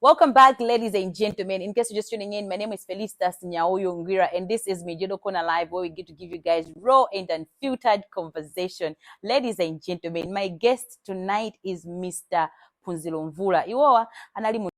Welcome back, ladies and gentlemen. In case you're just tuning in, my name is Felicitas Nyauyo Ngira, and this is Mijedo Kona Live, where we get to give you guys raw and unfiltered conversation. Ladies and gentlemen, my guest tonight is Mr. Punzilo Mvula. Iwowa anali mu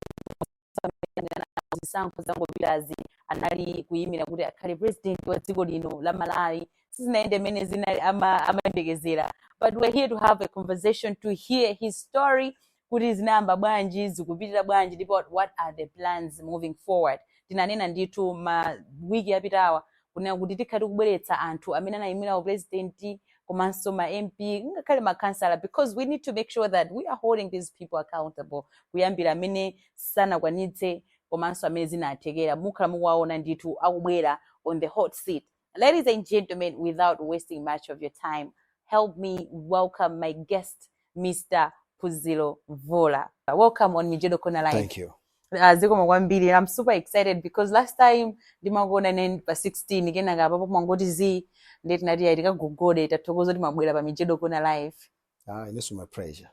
zisankho zangopitazi anali kuyimira kuti akhale president wa dziko lino la Malawi. Sizinaende mene zinali ama- amayembekezera. But we're here to have a conversation to hear his story kuti zinayamba bwanji zikupitira bwanji ndipo what are the plans moving forward tinanena ndithu ma wiki yapitawa kunena kuti tikhala tikubweretsa anthu amene anayimira upulezidenti komanso ma mp ngakhale makhansala because we need to make sure that we are holding these people accountable kuyambira amene sanakwanitse komanso amene zinathekera mukhala mukuwawona ndithu akubwera on the hot seat Ladies and gentlemen, without wasting much of your time, help me welcome my guest, Mr. Phunziro Mvula. Welcome on Mijedo Kona Live. Thank you. Uh, zikomo kwambiri i'm super excited because last time ndimakuonani pa 16 kenaka apapa munangoti zii nde tinati ayi tikagogode tathokoza kuti mwabwera pa mijedo kona live Ah, inenso my pleasure.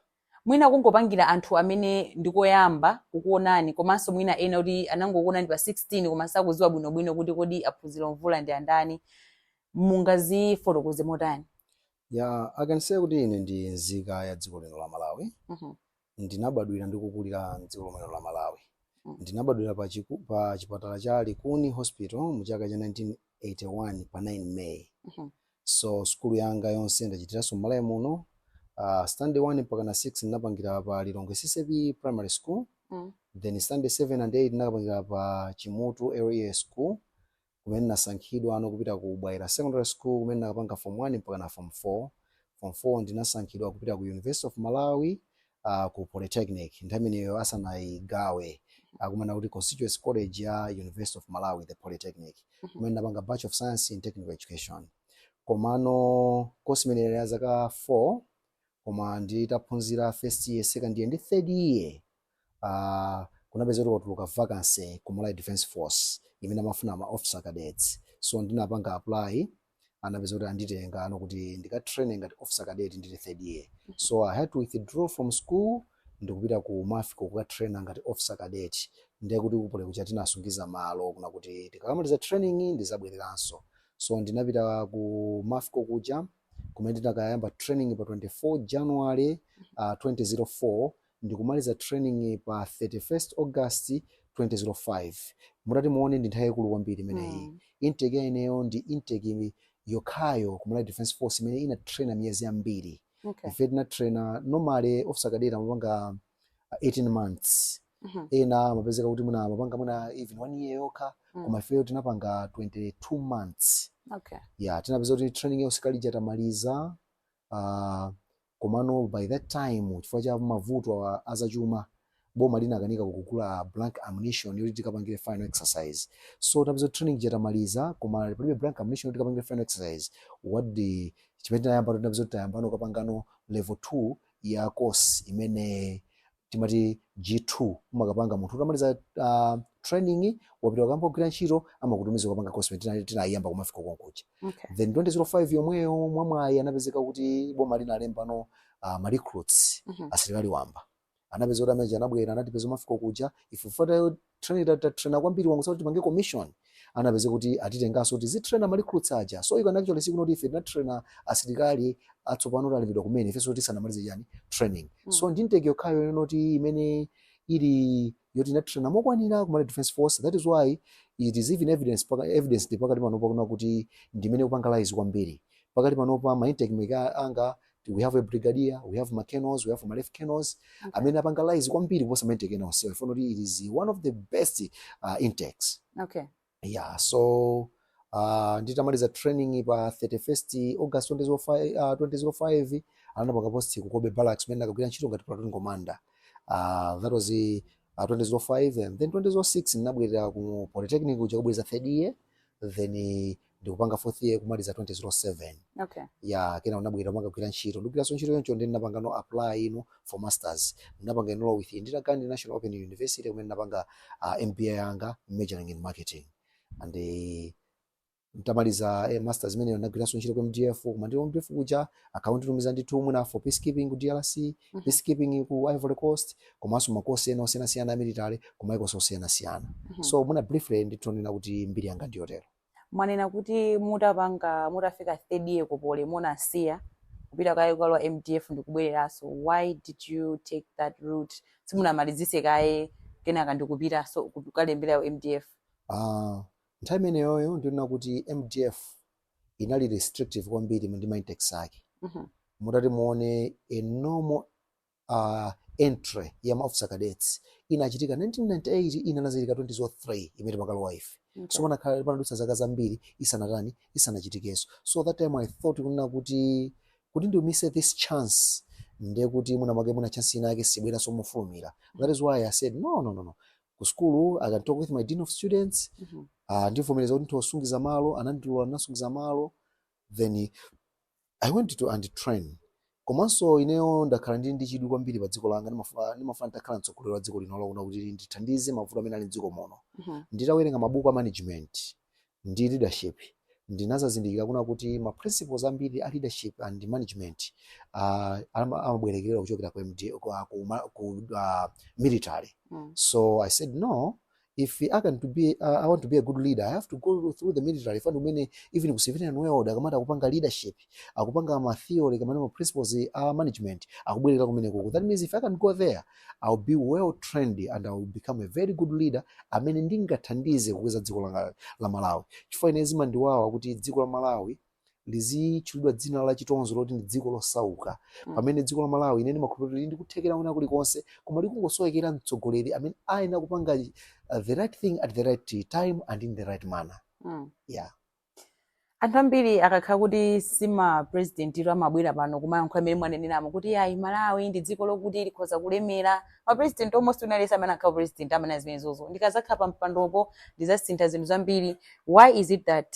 Mwina kungopangira anthu amene ndikoyamba kukuonani komanso mwina enaake oti anangokuonani pa 16 koma sakuziwa bwino bwino kuti kodi a Phunziro Mvula ndi andani mungazifotokoze motani? Yeah, I can say kuti ine ndi nzika ya dziko lino la Malawi. Mm -hmm. Ndinabadwira ndi kukulira m'dziko lomwe la Malawi. Mm. Ndinabadwira pa, chiku, pa chipatala cha Likuni Hospital mu chaka cha 1981 pa 9 May. Mm -hmm. So sukulu yanga yonse ndachitiranso m'Malawi muno. Uh, standard 1 mpakana 6 ndinapangira pa Lilongwe CCAP Primary School. Mm. Then standard 7 and 8 ndinapangira pa Chimutu LEA School kumene ndinasankhidwa no kupita ku Bwaila Secondary School kumene ndinakapanga form 1 mpakana form 4. Form 4 ndinasankhidwa kupita ku University of Malawi uh, ku polytechnic nthawi imeneyo asanayigawe akunena kuti constituent college ya university of malawi the polytechnic kumene ndinapanga bachelor of science in technical education komano kosi imeneyo ya zaka 4 koma nditaphunzira first year second year ndi third year uh, kunapezeka kuti kwatuluka vacancy ku malawi defense force imene amafuna ma officer cadets so ndinapanga apply anapezeka kuti anditenga no kuti ndikatraine ngati officer cadet ndili third year so i had to withdraw from school ndikupita ku mafco kukatraina ngati officer cadet ndiye kuti ku poly kuja tinasungiza malo kunena kuti tikakamaliza training ndizabwereranso so ndinapita ku mafco kuja kumene ndinakayamba training pa 24 january uh, 2004 ndikumaliza training pa 31st August 2005 mutati muone ndi nthawi yaikulu kwambiri imeneyi Mm. intake ya ineyo ndi intake yokhayo ku Malawi Defence Force imene inatraina miyezi yambiri Okay. ife tinatraina normally officer cadet amapanga uh, 18 months Mhm. ena amapezeka kuti mwina amapanga mwina even one year yokha Mm. koma ifeyo tinapanga 22 months Okay. ya tinapeza kuti training ya usilikali ija tamaliza uh, Komano by that time chifukwa cha mavuto azachuma, boma linakanika kugula blank ammunition yoti tikapangire final exercise. So tinapeza kuti training ija tamaliza koma palibe blank ammunition yoti tikapangire final exercise. What the, chimene tinayambano tinapeza kuti tayambano kukapangano level 2 ya course imene timati G2 umakapanga munthu utamaliza uh, training wapita kukayamba kugwira ntchito amakutumiza kupanga course imene tinayiyamba ku MAFCO konkuja Okay. then 2005 yomweyo mwamwayi anapezeka kuti boma linalembano uh, ma recruits Mhm. asilikali wamba anapeza kuti amene anabwera anatipeza ku MAFCO kuja ife fatayo train tatraina kwambiri wangu kuti tipange commission anapezeka kuti atitenganso kuti tizitraina ma recruits aja so you can actually see kuti ife tinatraina asilikali atsopano atalembedwa kumene ifenso tisanamalize yani training Mm. so ndi intake yokhayo inoti imene ili yoti inatraina mokwanira ku Malawi defense force that is why it is even evidence paka, evidence ndi pakati panopa kunena kuti ndi imene ikupanga rise kwambiri pakati panopa ma intake mate anga we have a brigadier we have ma colonels we have ma lieutenant colonels amene apanga rise kwambiri kuposa maintake ena onsewa ifuna kuti it is one of the best uh, intakes okay yeah so uh, nditamaliza training pa 31st august 2005 uh, 2005 anandipanga post ku Cobbe barracks kumene ndinakagwira ntchito ngati platoon commander uh, that was uh, 2005 and then 2006 ndinabwerera ku polytechnic kuja kubweza third year then uh, ndikupanga fourth year kumaliza 2007 okay ya kenako ndinabwera mwakagwira ntchito ndikugwiranso ntchito yoncho ndi ndinapangano apply for masters ndinapanga enroll with Indira Gandhi National Open University kumene ndinapanga uh, MBA yanga majoring in marketing and eh, ntamaliza eh, masters imeneyo ndinagwiranso ntchito ku MDF koma ndili ku MDF kuja ankanditumiza ndi tumu na for peacekeeping ku DRC Mhm. peacekeeping ku Ivory Coast komanso makosi ena osiyanasiyana a military kumaiko osiyanasiyana Mhm. so mwina briefly nditha kunena kuti mbiri yanga ndiyotero Mwanena kuti mutapanga mutafika third year ku poly munasiya kupita kaye kukalowa mdf ndikubwereranso why did you take that route simunamalizitse kaye kenaka ndikupitaso kukalembera ku mdf? Aaa nthawi imeneyoyo ndinena kuti mdf inali restrictive kwambiri ndi ma intakes ake mutati muone a normal uh, entry ya ma officer cadets inachitika 1998 ina inachitika 2003 imene timakalowa ife Okay. so panakhala panadutsa zaka zambiri isanatani isanachitikenso so that time i thought kunena kuti kuti ndimise this chance ndiye kuti mwina mwake mwina chance inayake sibweranso mofulumira that is why i said no no no no ku school i can talk with my dean of students Mhm. uh, andivomereza kuti nditha kusungiza malo anandilola ndinasungiza malo then I went to and train komanso ineyo ndakhala ndili ndi chidwi kwambiri pa dziko langa ndimafuna ndimafuna nditakhala mtsogoleri wa dziko lino lino kuti ndithandize mavuto amene ali mdziko muno Mhm. nditawerenga mabuku a management ndi leadership ndinazazindikira kunena kuti ma principles ambiri a leadership and management uh, amabwerekerera kuchokera ku, MD, ku, ku, ma- ku uh, military Mm. so i said no if I can to be uh, I want to be a good leader I have to go through the military chifukwa ndi kumene even ku civilian world akamati akupanga leadership akupanga ma theory kapena ma principles a management akubwereka kumenekuko that means if I can go there I'll be well trained and I'll become a very good leader amene ndingathandize kukweza dziko langa la Malawi chifukwa ine zimandiwawa kuti dziko la Malawi lizitchulidwa dzina la chitonzo loti ndi dziko losauka mm. pamene dziko la Malawi ine ndimakhulupirira lili ndi kuthekera kwina kulikonse koma likungosowekera mtsogoleri amene ayenera kupanga uh, the right thing at the right time and in the right manner mm. yeah anthu ambiri akakhala kuti si ma president iwo amabwera pano kumayankhula mmene mwaneneramo kuti ayi malawi ndi dziko lokuti likhoza kulemera ma president almost onse amene akhala president amanena zimenezozo ndikazakhala pa mpandopo ndizasintha zinthu zambiri why is it that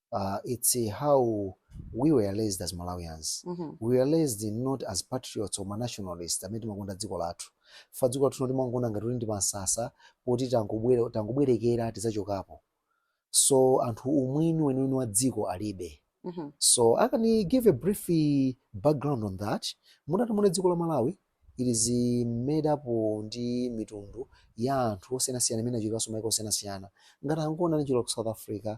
uh, it's uh, how we were raised as malawians mm -hmm. we were raised not as patriots or nationalists amene timakonda dziko lathu chifukwa dziko lathu timaliona ngati kuti ndi pamsasa poti tangobwerekera tizachokapo so anthu umwini weniweni wa dziko alibe mm -hmm. so i can give a brief uh, background on that mutati muone dziko la malawi it is uh, made up ndi mitundu ya anthu osiyanasiyana imene achokera kumaiko osiyanasiyana ngati angoni anachokera ku south africa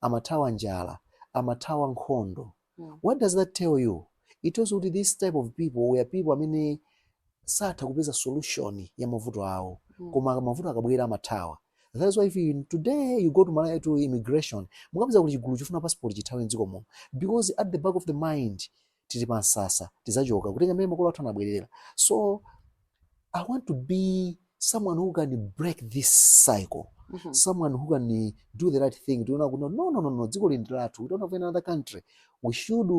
amathawa njala, amathawa nkhondo. What does that tell you? It tells you kuti this type of people were people amene satha kupeza solution ya mavuto awo koma mavuto akabwera amathawa. That is why if you, today you go to Malawi to immigration, mukapeza kuti chigulu chofuna passport chithawe mdziko muno because at the back of the mind tili pa msasa tizachoka kutenga mmene makolo athu anabwerera so i want to be someone who can break this cycle Mhm. someone who can eh, do the right thing tiona kuti no no no no dziko lindi lathu we don't have any other country we should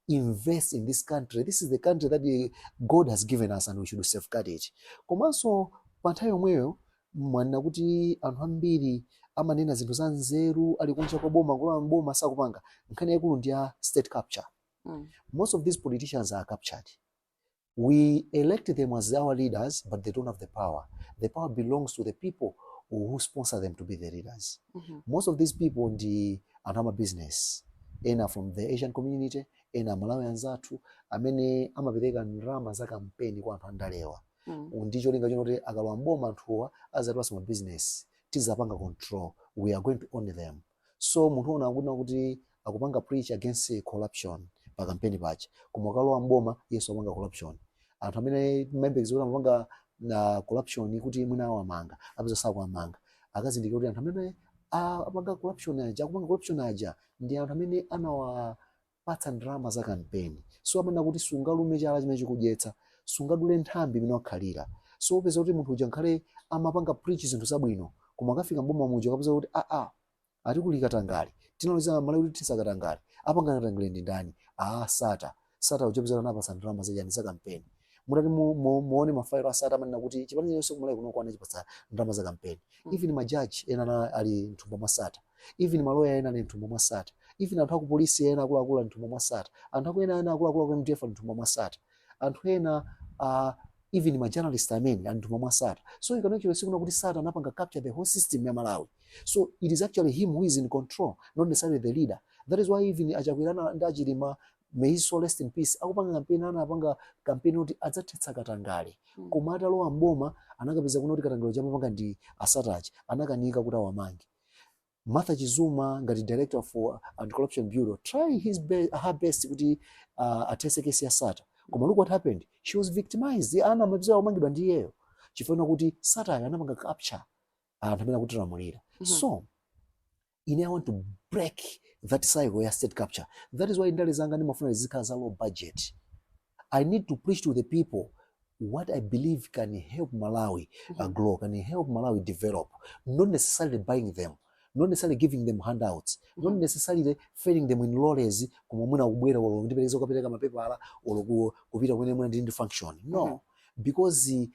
invest in this country this is the country that eh, god has given us and we should safeguard it komanso pa nthawi yomweyo Mwanena kuti anthu ambiri amanena zinthu za nzeru ali kunja kwa boma kulowa mboma sakupanga. Nkhani yaikulu ndi ya state capture. Mm. Most of these politicians are captured. We elect them as our leaders but they don't have the power. The power belongs to the people who sponsor them to be their leaders. Mm -hmm. Most of these people ndi anthu ama business. Ena from the Asian community, ena aMalawi anzathu amene amapereka ndalama za kampeni kwa anthu andalewa. mm. ndi cholinga choti akalowa mboma anthuwa azatipatsa mabizinesi tizapanga control we are going to own them so munthu uona ngati kuti akupanga preach against corruption pa kampeni pache koma akalowa mboma iyenso apanga corruption anthu amene umayembekeza kuti amapanga na corruption kuti mwina awamanga apeza sakuwamanga akazindikira kuti anthu amene a- apanga corruption aja akupanga corruption aja ndi anthu amene anawa Patsa ndalama za kampeni. So amanena kuti sungalume chala chimene chikudyetsa, sungadule nthambi imene wakhalira. So upeza kuti munthu uja nkhale amapanga preach zinthu zabwino, koma akafika mboma muja akapeza kuti aa, ah, ah, ati kuli katangale. Tinalonjeza aMalawi kuti tithetsa katangale. Apanga katangale ndi ndani? Aa, ah, Sattar. Sattar uja upeza anapatsa ndalama za chani za kampeni. Mutati mu, mu, muone mafayilo a Sattar amanena kuti chipani chonse kumalawi kuno anachipatsa ndalama za kampeni. Mm. Even majaji ena ali mthumba mwa Sattar. even maloya ena ali mthumba mwa sattar even anthu akupolisi ena akuluakulu ali mthumba mwa sattar anthu aku ena ena akuluakulu aku mdf ali mthumba mwa sattar anthu ena uh, even ma journalist amene ali mthumba mwa sattar so you can actually see kuna kuti sattar anapanga capture the whole system ya malawi so it is actually him who is in control not necessarily the leader that is why even achakwera ndi achilima may his soul rest in peace akupanga kampeni anapanga kampeni kuti adzathetsa katangale koma atalowa mboma anakapeza kuna kuti katangale uja amapanga ndi a sattar aja anakanika kuti awamange Martha Chizuma ngati director for uh, anti-corruption bureau try his be her best kuti uh, athetse case ya Sattar koma look what happened she was victimized ana amapezeka omangidwa ndi iyeyo chifukwa kuti Sattar uyo anapanga capture anthu amene akutilamulira mm -hmm. so ine I want to break that cycle ya state capture that is why ndale zanga ndimafuna zizikhala za low budget I need to preach to the people what I believe can help Malawi uh, grow, can help Malawi develop, not necessarily buying them, not necessarily giving them handouts, not necessarily ferrying them in lorries, koma mwina akubwera olo ndipelekeza kukapereka mapepala olo ku- kupita kumene mwina ndili ndi function. No, because eh,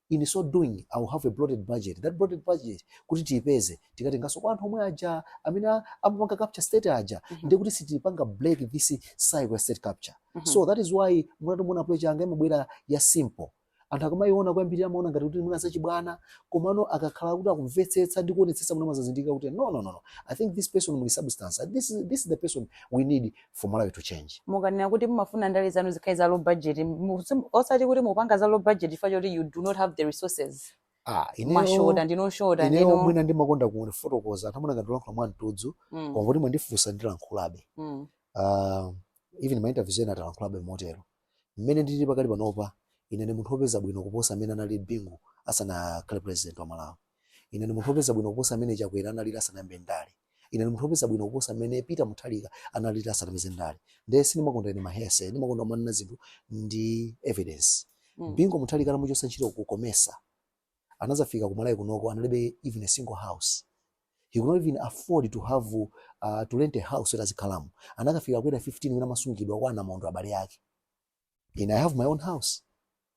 In so doing, I will have a bloated budget. That bloated budget kuti tiipeze tikatenganso kwa anthu omwe aja amene a- amapanga capture state aja Mhm. ndiye kuti sitipanga break this cycle ya state capture Mhm. so that is why mutati muone approach yanga imabwera ya simple anthu akamayiona koyambirira amaona ngati kuti mwina zachibwana komano akakhala kuti akumvetsetsa ndi kuonetsetsa mwina amadzazindikira kuti no no no no i think this person muli substance this is, this is the person we need for Malawi to change. mukanena kuti mumafuna ndale zanu zikhale za low budget mu- sim- osati kuti mupanga za low budget chifukwa choti you do not have the resources Ah, mwashota ineyo ndino shota ineyo ndino mwina ndimakonda kufotokoza anthu amaona ngati ndilankhula mwa mtudzu Mm, koma kuti mwandifunsa ndilankhulabe. mm, Uh, even ma interviews ena talankhulabe motero. Mmene ndilili pakali panopa, ine ndi munthu wopeza bwino kuposa mmene analili Bingu asanakhale president wa Malawi. Ine ndi munthu wopeza bwino kuposa mmene Chakwera analili asanayambe ndale. Ine ndi munthu wopeza bwino kuposa mmene Peter Mutharika analili asanapeze ndale. Nde sindimakonda ine ma hearsay, ndimakonda kumanena zinthu ndi evidence. Mm. Bingu Mutharika atamuchotsa ntchito ku Comesa, anazafika ku Malawi kunoko analibe even a single house he could not even afford to have uh, to rent a house yoti azikhalamo anakafika ku area 15 wina amasungidwa kwa a Namondwe abale ake ine i have my own house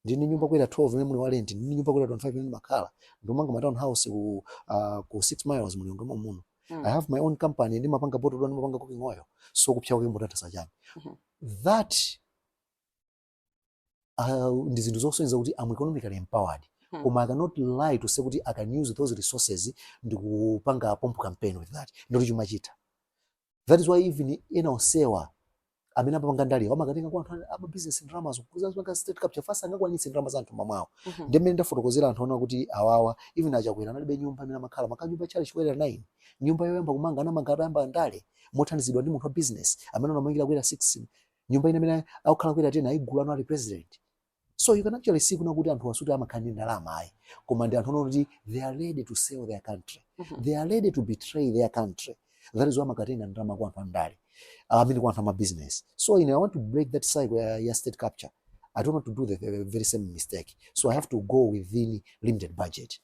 ndili ndi nyumba ku area 12 imene muli wa rent ndili ndi nyumba ku area 25 imene ndimakhala ndikumanga ma town house ku uh, ku 6 miles mu Lilongwe muno Mm. i have my own company ndimapanga botolo ndimapanga cooking oil so kupsya kwake mutata sachani Mhm. that uh, ndi zinthu zosonyeza kuti am economically empowered Hmm. koma i cannot lie to say kuti i can use those resources ndikupanga pomp campaign with that ndiye kuti chuma chitha that is why even ena onsewa amene amapanga ndale amakatenga kwa anthu a- ama business ndalamazo kuzapanga state capture chifukwa sangakwanitse ndalama za m'thumba mwawo Mhm. ndi mmene ndafotokozera anthu kunena kuti awawa even a Chakwera analibe nyumba imene amakhala amakhala nyumba ya tchalitchi ku area 9 nyumba yoyamba kumanga anamanga atayamba ndale mothandizidwa ndi munthu wa business amene anawamangira ku area 6 nyumba ina imene akukhala ku area 10 ayigula pano ali president so you can actually see kunena kuti anthuwa sikuti amakhala ndi ndalama ayi koma ndi anthu oti they are ready to sell their country mm -hmm. they are ready to betray their country that is why amakatenga ndalama kwa anthu andale ah, amene kwa anthu ama business so ine i want to break that cycle ya, ya state capture i don't want to do the, the very same mistake so i have to go within limited budget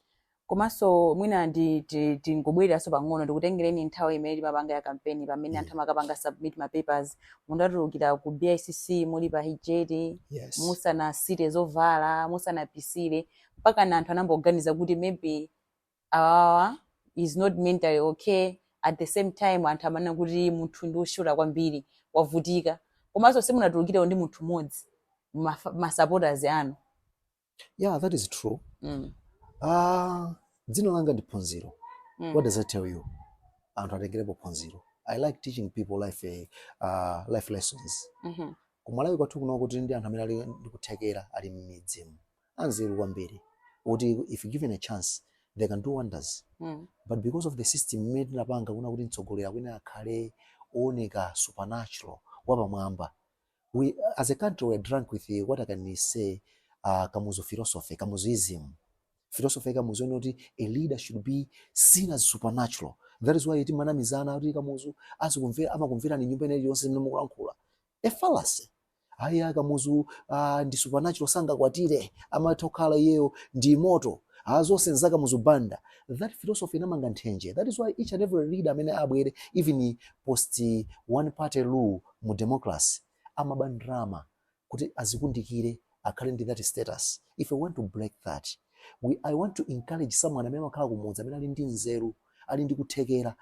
komanso mwina ndi ti- tingobwereranso pang'ono ndikutengereni nthawi imene timapanga ya kampeni pamene anthu amakapanga submit ma papers munatulukira ku bicc muli pa hijet Yes. musanasite zovala musanapesere mpakana anthu anayamba kuganiza kuti maybe awawa is not mentally okay at the same time anthu amanena kuti munthu ndi woshota kwambiri wavutika komanso simunatulukire ndi munthu mmodzi mafa- ma supporters anu yeah that is true mm. ah dzina langa ndi phunziro mm. what does that tell you anthu atengerepo phunziro i like teaching people life uh, life lessons mm -hmm. kumalawi kwathu kuno kuli ndi anthu amene ali ndikuthekera ali mmidzimu anzeru kwambiri kuti if given a chance they can do wonders mm. but because of the system imene tinapanga kunena kuti mtsogoleri akuyenera akhale ooneka supernatural wapamwamba we as a country we're drunk with the, what i can say uh, kamuzu philosophy kamuzuism philosophy ya kamuzu yonena kuti a leader should be seen as supernatural that is why timanamizana kuti kamuzu azikumvera amakumverani nyumba imeneyi yonse imene mukulankhula a fallacy ayi akamuzu uh, ndi supernatural sangakwatire amatha kukhala iyeyo ndi moto Ah, zonse nza kamuzu banda that philosophy inamanga nthenje that is why each and every leader amene abwere even post one party rule mu democracy amaba ndalama kuti azikundikire akhale ndi that status if i want to break that i want to encourage someone amene amakhala kumudzi amene ali ndi nzeru ali ndi kuthekera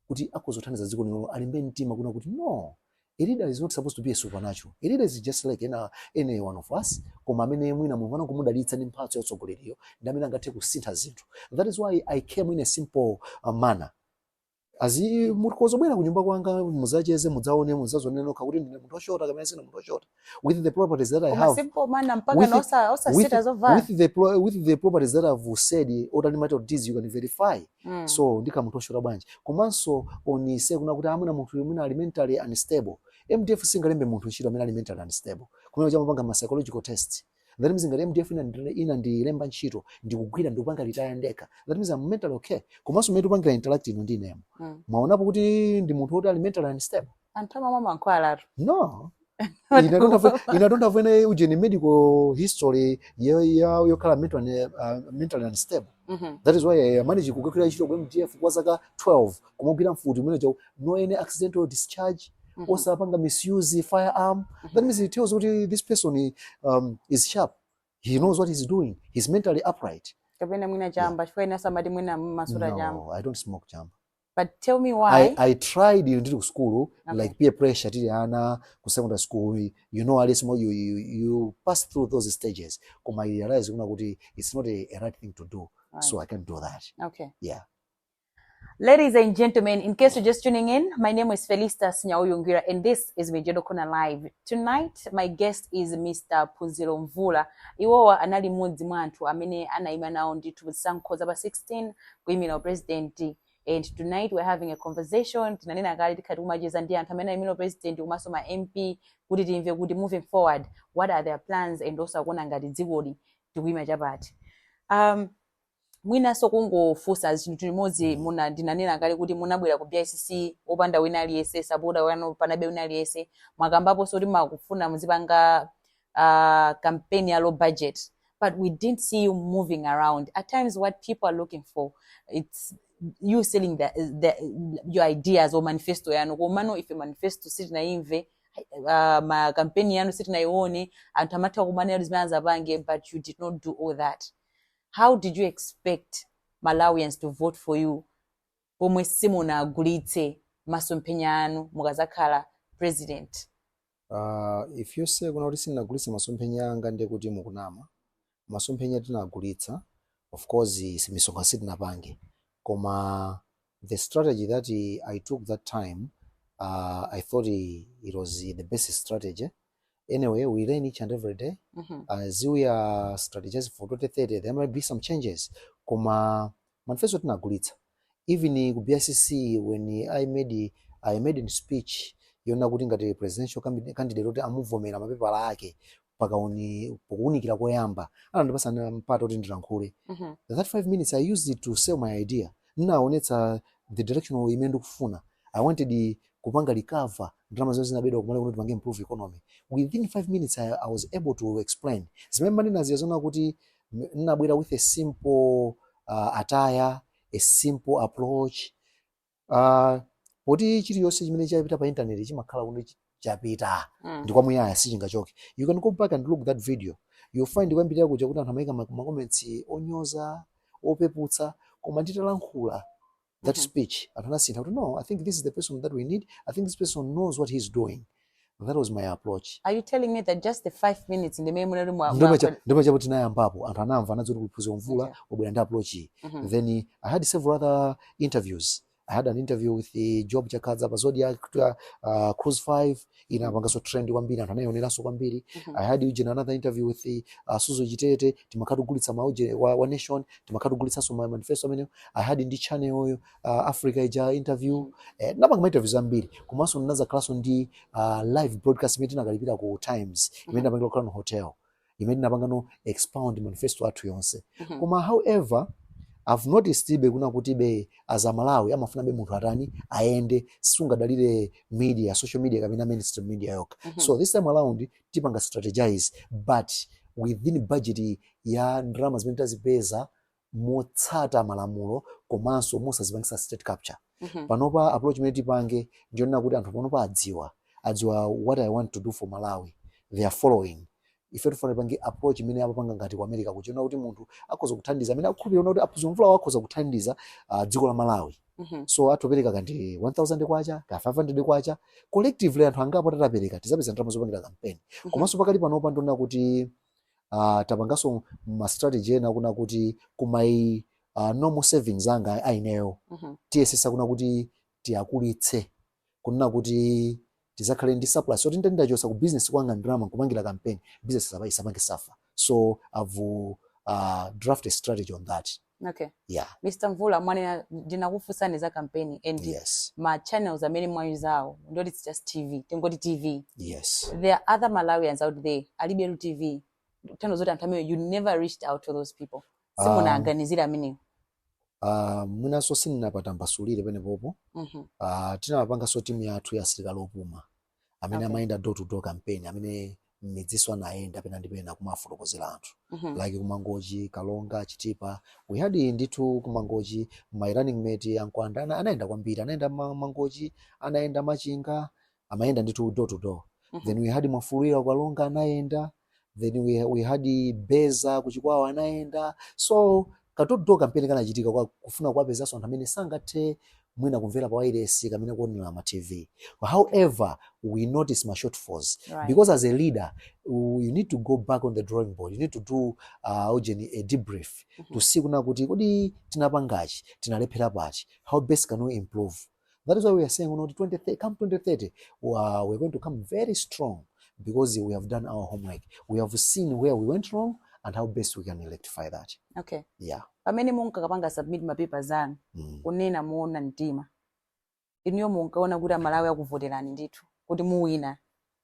kuti akhoza kuthandiza dziko lino alimbe mtima kunena kuti no a leader is not supposed to be a supernatural a leader is just like ena any one of us koma amene mwina mulungu anamudalitsa ndi mphatso ya utsogoleriyo ndi amene angathe kusintha zinthu that is why i came in a simple uh, manner that's mukhoza kubwera kunyumba kwanga muzacheze mudzaone muzazione nokha kuti ndine munthu oshota kapena sindine munthu oshota with the properties that i have simple manner mpaka osasita zovala with the pro, with the properties that i've said all of this you can verify Mm. so ndikhala munthu oshota bwanji komanso onetsetsani kunena kuti amuna munthu mwina ali mentally unstable mdf singalembe munthu ntchito amene ali mentally unstable kumene kuja amapanga ma psychological test that means ngati mdf inandi- inandilemba ntchito ndikugwira ndikupanga retire ndekha that means I'm mentally okay komanso mmene tikupangira interact ino ndi inemo Mm. mwaonapo kuti ndi munthu woti ali mentally unstable anthu amamwa mankhwala atu no I don't have I don't have any ujeni medical history yo- yo- yokhala mentally uh, mentally unstable Mhm. that is why i managed kukagwira ntchito ku mdf kwa zaka 12 kumagwira mfuti mmene muja no any accidental discharge Mhm. osapanga misuse firearm that means it tells kuti this person um, is sharp he knows what he's doing he's mentally upright kapena mwina chamba chifukwa ena amati mwina mumasuta chamba no i don't smoke chamba but tell me why I, I tried ndili ku sukulu okay. like peer pressure tili ana ku secondary school you know at least mo- you, you, you pass through those stages koma i realized kunena kuti it's not a, a right thing to do Right. so i can't do that okay yeah Ladies and gentlemen, in case you're just tuning in, my name is Felistas Nya-uyu Ngwira and this is Mijedo Corner Live. Tonight, my guest is Mr. Phunziro Mvula. Iwowa anali mmodzi mwa anthu amene anaima nawo ndithu pazisankho za pa 16 kuimira uprezidenti and tonight we're having a conversation tinanena kale tikhala tikumacheza ndi anthu amene aimira uprezidenti komanso ma mp kuti timve kuti moving forward what are their plans and also akuona ngati dzikoli tikuima chapati um, mwinanso kungofunsa chinthu chimodzi muna ndinanena kale kuti munabwera ku bicc opanda wina aliyense sapota wanu panalibe wina aliyense mwakambaponso kuti mumafuna muzipanga uh, campaign ya low budget but we didn't see you moving around at times what people are looking for it's you selling the, the, your ideas or manifesto yanu komano ife manifesto sitinayimve uh, ma campaign yanu sitinayione anthu amatha kumanena kuti zimene anzapange but you did not do all that how did you expect malawians to vote for you pomwe simunagulitse masomphenya anu mukazakhala president? Uh, if you say kunena kuti sindinagulitse masomphenya anga ndiye kuti mukunama. Masomphenya tinagulitsa, of course misonkhano sitinapange, koma the strategy that I took that time uh, I thought it was the best strategy anyway we learn each and every day Mhm. as we are strategizing for 2030 there might be some changes koma manifesto tinagulitsa even ku bicc when i made i made in speech yonena kuti ngati presidential candid- candidate kuti amuvomera mapepala ake pakuuni pokuunikira koyamba anandipasa na mpata kuti ndilankhule Mhm. that five minutes i used it to sell my idea nnaonetsa the direction imene ndikufuna i wanted kupanga recover ndalama zimene zinabedwa kumalo kuti tipange improve economy within 5 minutes I, I was able to explain zimene mmanena ndi zonena kuti m- nnabwera with a simple uh, attire a simple approach uh, poti chilichonse chimene chapita pa internet chimakhala kuti chi- chapita Mm. ndi kwamuyaya sichingachoke you can go back and look that video you'll find koyambirira kuja kuti anthu amaika ma- macomments onyoza opeputsa koma nditalankhula that mm -hmm. speech anthu anasintha kuti no i think this is the person that we need i think this person knows what he's doing that was my approach are you telling me that just the five minutes ndimene munali ndipo chapo tinayambapo anthu anamva anadziwa kuti Phunziro Mvula okay. wabwera ndi approach iyi mm -hmm. then i had several other interviews i had an interview with the Joab Chakhaza pa Zodiak uh, cruise 5 inapanganso trend kwambiri anthu anayioneranso kwambiri Mhm. i had ujeni another interview with the, uh, Suzgo Chitete timakhala tikugulitsa ma ujeni wa, wa nation timakhala tikugulitsanso ma manifesto amenewo i had ndi channel oyo uh, africa ija interview eh, napanga ma interviews ambiri komanso ndinazakhalanso ndi uh, live broadcast imene tinakalipira ku times imene Mhm. napangila ku Crown hotel imene tinapanganso expound manifesto athu yonse mhm. koma however I've noticed ibe kunena kutibe as Amalawi amafunabe munthu atani ayende sungadalire media social media kapena mainstream media yokha mm -hmm. so this time around tipanga strategize but within budget ya ndalama zimene tazipeza motsata malamulo komanso mosazipangisa state capture mm -hmm. panopa approach imene tipange ndiyonena kuti anthu panopa adziwa adziwa what i want to do for malawi they are following ife tifuna tipange approach imene amapanga ngati ku america kuja yonena kuti munthu akhoza kuthandiza amene akukhulupirira kuti a Phunziro Mvula akhoza kuthandiza uh, dziko la malawi mm -hmm. so atopereka kaya ndi 1000 kwacha ka 500 kwacha collectively anthu angapo tatapereka tizapeza ndalama zopangira kampeni mm -hmm. komanso pakali panopa ndiyonena kuti uh, tapanganso ma strategy ena kunena kuti kuma uh, normal savings anga a ineyo mm -hmm. tiyesesa kunena kuti tiwakulitse kunena kuti tizakhale ndi surplus yoti nditachosa ku business kwanga ndalama nkupangira campaign business isaba isapange suffer so i've uh, draft a strategy on that Okay. Yeah. Mr. Mvula mwanena ndinakufunsani za campaign and yes. ma channels amene mwayuzawo ndi it's just TV tingoti TV yes. there are other Malawians out there alibetu TV tanthauzo zoti anthu amene you never reached out to those people ah. simunaganizira um, amenewo Uh, ah, mwinanso sindinapata ndimasulire penepopo mm -hmm. uh, ah, tinamapanganso timu yathu ya asilikali opuma amene okay. amayenda door to door campaign amene mmidzinso anayenda pena ndi pena kumafotokozera anthu mm -hmm. like kumangochi karonga chitipa we had ndithu kumangochi my running mate a Mkwanda anayenda kwambiri anayenda mangochi anayenda machinga amayenda ndithu door to door mm -hmm. then we had mwafulirwa karonga anayenda then we, we had beza kuchikwawa anayenda so ka door to door kampeni kanachitika kwa kufuna kuwapezanso anthu amene sangathe mwina kumvera pa wailesi kapena kuonera ma tv however we notice ma shortfalls right. because as a leader you need to go back on the drawing board you need to do uh, ujeni a debrief mm -hmm. to see kunena kuti kodi tinapangachi tinalephera pati how best can we improve That is why we are saying, you know, 20, come 2030, wow, we're going to come very strong because we have done our homework. We have seen where we went wrong and how best we can rectify that. Okay. Yeah. Pamene munkakapanga submit mapepa zanu mm. kunena muona mtima inuyo munkaona kuti amalawi akuvoterani ndithu kuti muwina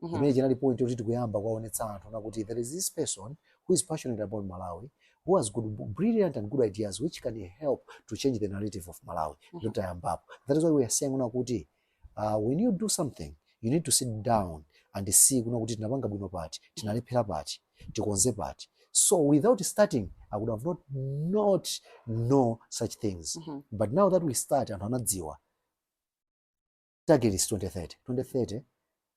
Mhm. imene chinali point yoti tikuyamba kuwaonetsa anthu kunena kuti there is this person who is passionate about malawi who has good brilliant and good ideas which can help to change the narrative of malawi Mhm. ndiye tayambapo that is why we are saying kunena kuti uh, when you do something you need to sit down and see kunena kuti tinapanga bwino pati tinalephera pati tikonze pati so without starting i would have not, not know such things Mhm. but now that we start anthu anadziwa target is 2030 2030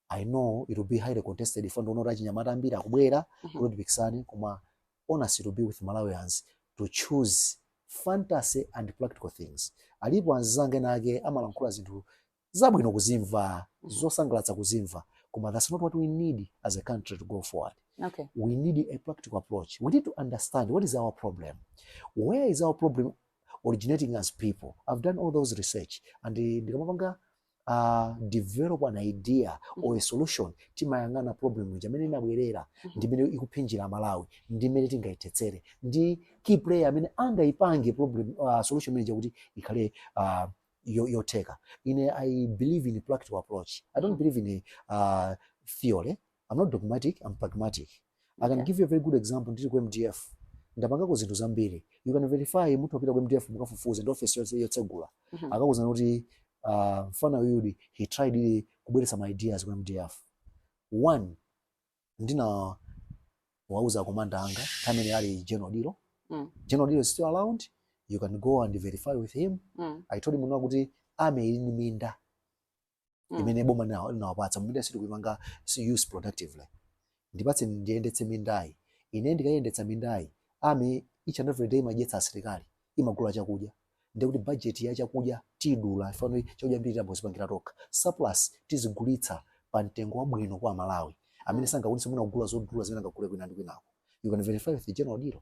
i know it will be highly contested ifeyo ndikuona kuti achinyamata ambiri akubwera Mhm. kuti tipikisane koma honestly it will be with malawians to choose fantasy and practical things alipo anzanga ena ake amalankhula zinthu zabwino kuzimva Mhm. zosangalatsa kuzimva koma that's not what we need as a country to go forward okay we need a practical approach. We need to understand what is our problem. Where is our problem originating from as people i've done all those research and eh, ndikamapanga uh, develop an idea or a solution timayang'ana problem ija mmene inabwerera ndi mmene ikuphinjira malawi ndi mmene tingayithetsere ndi key player amene angayipange problem uh, solution imene ija kuti ikhale uh, yo- yotheka ine i believe in a practical approach i don't believe in a uh, theory I'm not dogmatic, I'm pragmatic. I can give you a very good example ndili ku MDF. Ndapangako zinthu zambiri. You can verify mutha kupita ku MDF mukafufuze ndi office yonse yotsegula. Mhm. Akakuuzani kuti uh, mfana uyu he tried really kubweretsa ma ideas ku MDF. One ndinawauza komanda anga mmene ali General Odillo. Mm. General Odillo is still around. You can go and verify with him. Mm. I told him kuti army ili ni minda. mm. imene boma linawapatsa minda sitikuyipanga use productively ndipatse ndiyendetse mindayi ine ndikayendetsa mindayi army each and every day imadyetsa asilikali imagula chakudya ndiye kuti budget ya chakudya tidula ifeyo chakudya chambiri tiyamba kudzipangira tokha surplus tizigulitsa pa mtengo wabwino kwa aMalawi amene mm. sangakwanitse mwina kugula zodula zimene angagule kwina ndi kwinako you can verify with the general odillo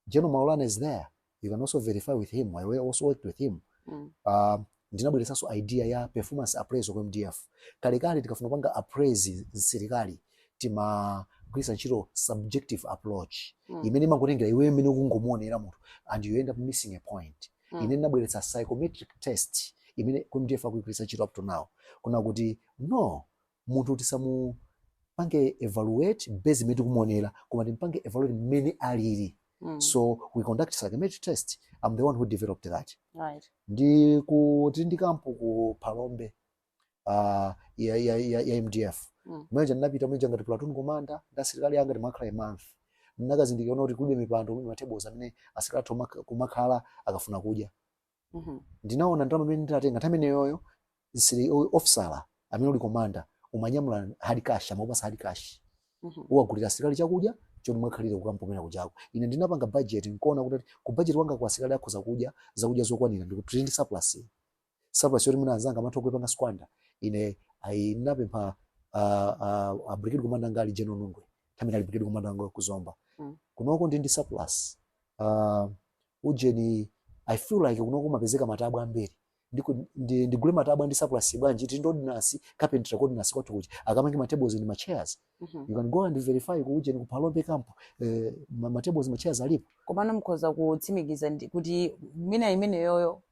general maulana is there you can also verify with him i also worked with him mm. uh, ndinabweretsanso idea ya performance appraisal ku mdf kalekale tikafuna kupanga appraise msilikali timagwiritsa ntchito subjective approach mm. imene imangotengera iwe imene ukungomuonera munthu and you end up missing a point mm. ine ndinabweretsa psychometric test imene ku mdf akuyigwiritsa ntchito up to now kunena kuti no munthu tisamupange evaluate based mmene tikumuonera koma timpange evaluate mmene alili mm. so we conduct psychometric test i'm the one who developed that right. ndi ku tili ndi kampu ku phalombe uh, ya, ya, ya, ya mdf Mm. mwenje ndinapita mwenje ngati platoon commander ndi asilikali anga timakhala month ndinakazindikira kuti kulibe mipando matebulo amene asilikali athu kumakhala akafuna kudya Mhm. ndinaona ndalama imene ndinatenga nthawi imeneyoyo ndili ofisala amene uli komanda umanyamula hard cash amakupatsa hard cash Mhm. uwagulira asilikali chakudya choti mukakhalire kukampu kujako ine ndinapanga budget nkuona kuti ku budget wanga asilikali akhoza kudya zakudya zokwanira ndikutsala ndi surplus iyi. surplus yoti mwina anzanga amatha kuipanga squander ine ayi ndinapempha ah, ah, a brigade commander anali general nungwe nthawi imene anali brigade commander nungwe ku zomba Mm. kunoko ndili ndi surplus Ah, ujeni i feel like kunoko kumapezeka matabwa ambiri Ndiku- ndi- ndigule matabwa ndi surplus bwanji tili ndi ordinance carpenter ku ordinance kwathu kuja akamange ma tables ndi ma chairs Mhm. you can go and verify ku ujeni ku phalombe camp eh, ma ma tables ma chairs alipo komano mukhoza kutsimikiza ndi- kuti mina imeneyoyo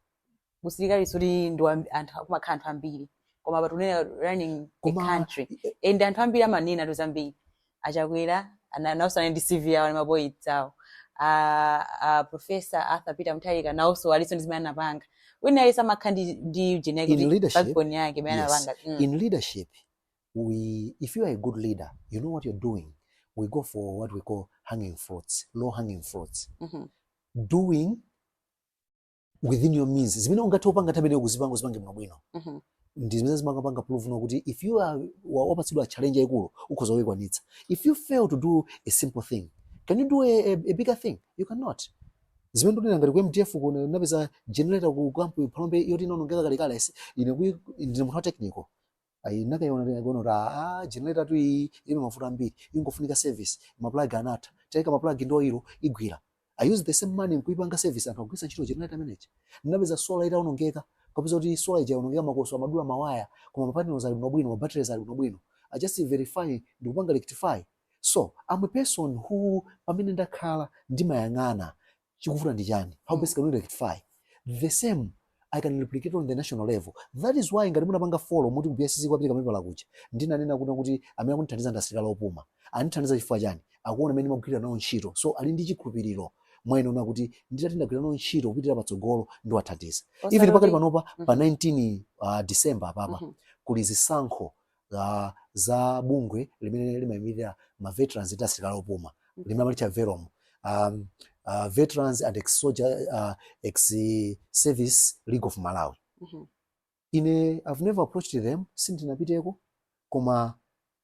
kusilikali sikuti ndi wa- anthu akumakhala anthu ambiri koma apa tikunena running the Koma- country and anthu ambiri amanenatu zambiri a chakwera ana- nawonso anali ndi cv yawo ndi mapoints awo a, a professor arthur peter mutharika nawonso alinso ndi zimene anapanga wina aliyense amakhala ndi, ndi ujeni yake In ndi leadership, backbone yake imene yes. anapanga mm. in leadership we if you are a good leader you know what you're doing we go for what we call hanging fruits low hanging fruits Mhm. doing within your means zimene ungathe kupanga nthawi imeneyo kuzipanga uzipange bwinobwino Mhm. ndi zimene zimapanga prove kunena kuti if you are wa- wapatsidwa challenge yayikulu ukhoza kuyikwanitsa if you fail to do a simple thing can you do a, a, a bigger thing you cannot zimene ndikunena ngati ku mdf kuno ndinapeza generator ku kampu phalombe yoti inaonongeka kalekale ine kuyi- ndine munthu wa technical ayi ndinakayiona nkuona kuti aa generator tu iyi ilibe mavuto ambiri ikungofunika service maplug anatha tikaika maplug ndi oilo igwira i use the same money nkuipanga service anthu akugwiritsa ntchito generator imene ija ndinapeza solar itaonongeka nkupeza kuti solar ija yaonongeka makoswe anadula mawaya koma mapanels ali bwinobwino mabatteries ali bwinobwino i just verify ndikupanga rectify so i'm a person who pamene ndakhala ndimayang'ana chikuvuta ndi chani how mm. best can we rectify the same I can replicate on the national level. That is why ngati munapanga follow muti BSC kwapita kamene pala kuja. Ndinanena kuti kuti amene akundithandiza ndi asilikali opuma. Andithandiza chifukwa chani? Akuona mmene ndimagwira nawo ntchito. So ali ndi chikhulupiriro mwa ine kunena kuti nditati ndagwira nawo ntchito kupitira patsogolo ndiwathandiza. Even pakati panopa pa 19 mm-hmm. uh, December apapa mm -hmm. kuli zisankho za bungwe limene limayimirira ma veterans ndi asilikali opuma limene amalitcha velom um, uh, veterans and ex soldier uh, ex service league of malawi Mhm. ine i've never approached them sindinapiteko koma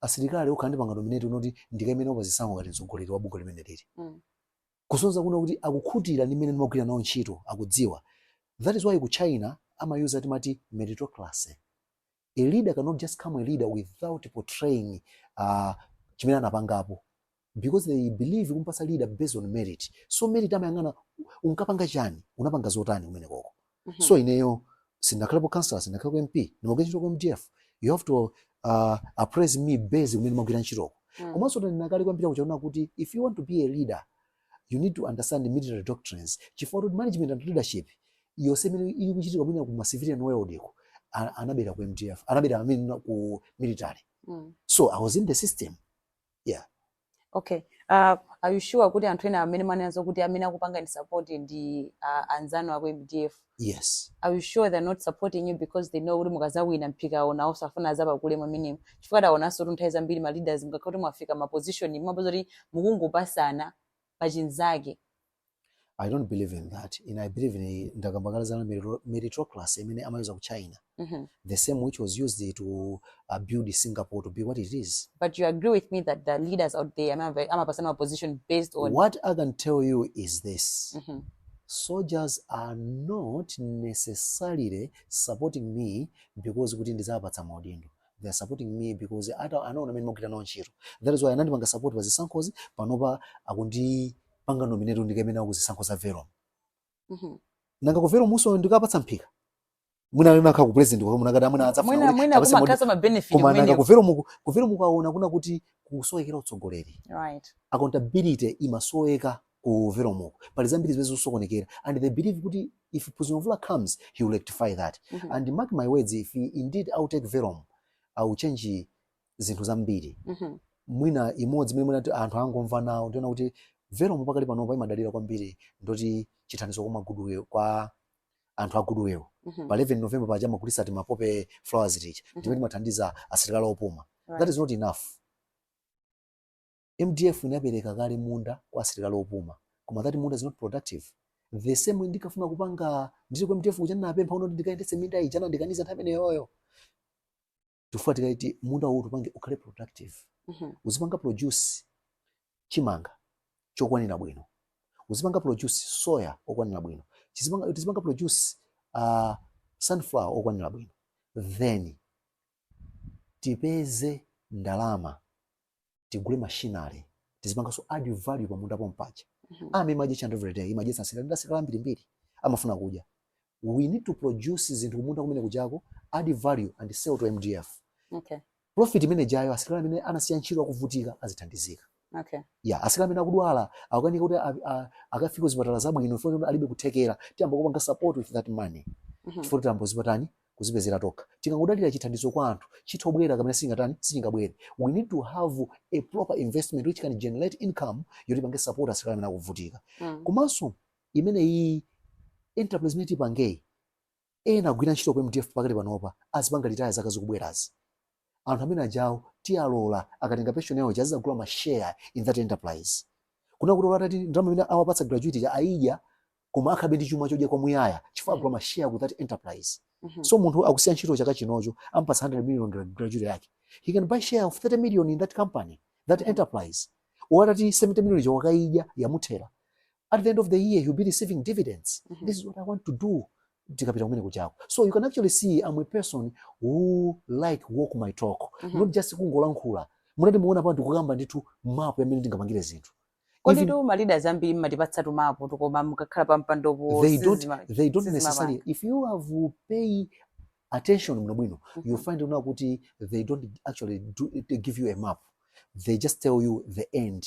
asilikali okha andipanga nominate unoti ndikaime nawo pazisankho ngati mtsogoleri wa bungwe limenelili Mm. kusonza kunena kuti akukhutira ndi mmene ndimagwira nawo ntchito akudziwa that is why ku china amayuza timati meritocracy a leader cannot just come a leader without portraying uh, chimene anapangapo because they believe kumpasa leader based on merit so merit amayang'ana unkapanga chani unapanga zotani kumenekoko mm -hmm. so ineyo sindinakhalepo councilor sindinakhalepo mp ndimagwira ntchito ku mdf you have to uh, appraise me based kumene ndimagwira ntchitoko mm. komanso ndanena kale koyambirira kuja kunena kuti if you want to be a leader you need to understand military doctrines chifukwa kuti management and leadership yonse imene ili kuchitika mwina ku ma civilian world iko a- anabera ku mdf anabera I mean, ku military Mm. so i was in the system okay uh, are you sure kuti anthu ena amene mwanenazo kuti amene akupangani support ndi uh, anzanu aku mdf Yes. Are you sure they're not supporting you because they know kuti mukazawina mphikawo nawonso afuna azapakule mwamenemo chifukwa taonanso kuti nthawi zambiri ma leaders mukakhala kuti mwafika ma position mumapeza kuti mukungopasana pa chinzake I don't believe in that. And I believe in ndakamba kale za merito- meritocracy imene amayuza ku China. mm -hmm. the same which was used to uh, build Singapore to be what it is. But you agree with me that the leaders out there, I'm a, I'm a personal position based on. What I can tell you is this. Mm -hmm. Soldiers are not necessarily supporting me because kuti ndizapatsa maudindo they are supporting me because I don't, I know amene magwira nawo ntchito that is why anandi panga support pa zisankhozi panopa akundi panga nominate ndikemena ku zisankho za verum Mhm. nanga ku velomunso ndikawapatsa mphika mwina amene akhala ku president kwa mwina akanati mwina adzafuna mwina kuti mwina apatse modi- kumakhaza ma benefit koma nanga kumeneko ku velomuku ku velomuku aona kunena kuti kukusowekera utsogoleri right accountability imasoweka ku velomuku pali zambiri zimene zikusokonekera and they believe kuti if president mvula comes he will rectify that Mhm. and mark my words if indeed i will take velom i will change zinthu zambiri Mhm. mwina imodzi imene mwina ti- anthu angomva nawo ndi yonena kuti velom pakali panopa imadalira kwambiri ndoti chithandizo kwa ma goodwill kwa anthu a goodwill Mhm. pa 11 november paja amagulitsa tima poppy flowers tija Mhm. ndimene timathandiza asilikali opuma Right. that is not enough mdf inapereka kale munda kwa asilikali opuma koma that munda is not productive the same way ndinkafuna kupanga ndili ku mdf kuja ndinapempha unoti ndikayendetse minda ija anandikaniza nthawi imeneyoyo chifukwa tikanati munda uwu tipange ukhale productive Mhm. uzipanga produce chimanga chokwanira bwino uzipanga produce soya okwanira bwino Chizipanga- tizipanga produce uh, sunflower okwanira bwino then tipeze ndalama tigule machinery tizipanganso add value pa munda pompaja mm -hmm. army imadya chando every day imadya sasira nda sira ambirimbiri amafuna kudya we need to produce zinthu kumunda kumene kujako add value and sell to MDF okay profit imene ijayo asilikali amene anasiya ntchito akuvutika azithandizika okay yeah asilikali amene akudwala akukanika kuti akafika kuzipatala zabwino chifukwa alibe kuthekera tiyamba kupanga support with that money mm -hmm. chifukwa tiyamba kuzipatani kuzipezera tokha. Tikangodalira chithandizo kwa anthu, chitha kubwera kapena sichingatani, sichingabwere. We need to have a proper investment which can generate income yoti ipange support asilikali amene akuvutika. Mm. Komanso imeneyi enterprise imene tipangeyi, ena agwira ntchito ku MDF pakali panopa azipanga retire zaka zikubwerazi. anthu amene ajawo tiwalola akatenga pension yawo ija azizagula ma share in that enterprise kuna kuti olo atati ndalama imene awapatsa gratuity ija aidya koma akhalabe ndi chuma chodya kwamuyaya chifukwa agula ma share ku that enterprise Mhm. so munthu akusiya ntchito chaka chinocho ampatsa 100 million gra- gratuity yake he can buy share of 30 million in that company that enterprise olo atati 70 million ija wakaidya yamuthera at the end of the year he'll be receiving dividends mm -hmm. this is what i want to do tikapita kumene kujako so you can actually see i'm a person who like walk my talk mm -hmm. not just kungolankhula munati muona pano ndikukamba ndithu mapu ya mmene tingapangire zinthu koditu ma leaders ambiri mmatipatsa tumapu tokoma mukakhala pa mpandopo they don't, they don't necessarily if you have pay attention bwino bwino mm -hmm. you find una kuti they don't actually give you a map they just tell you the end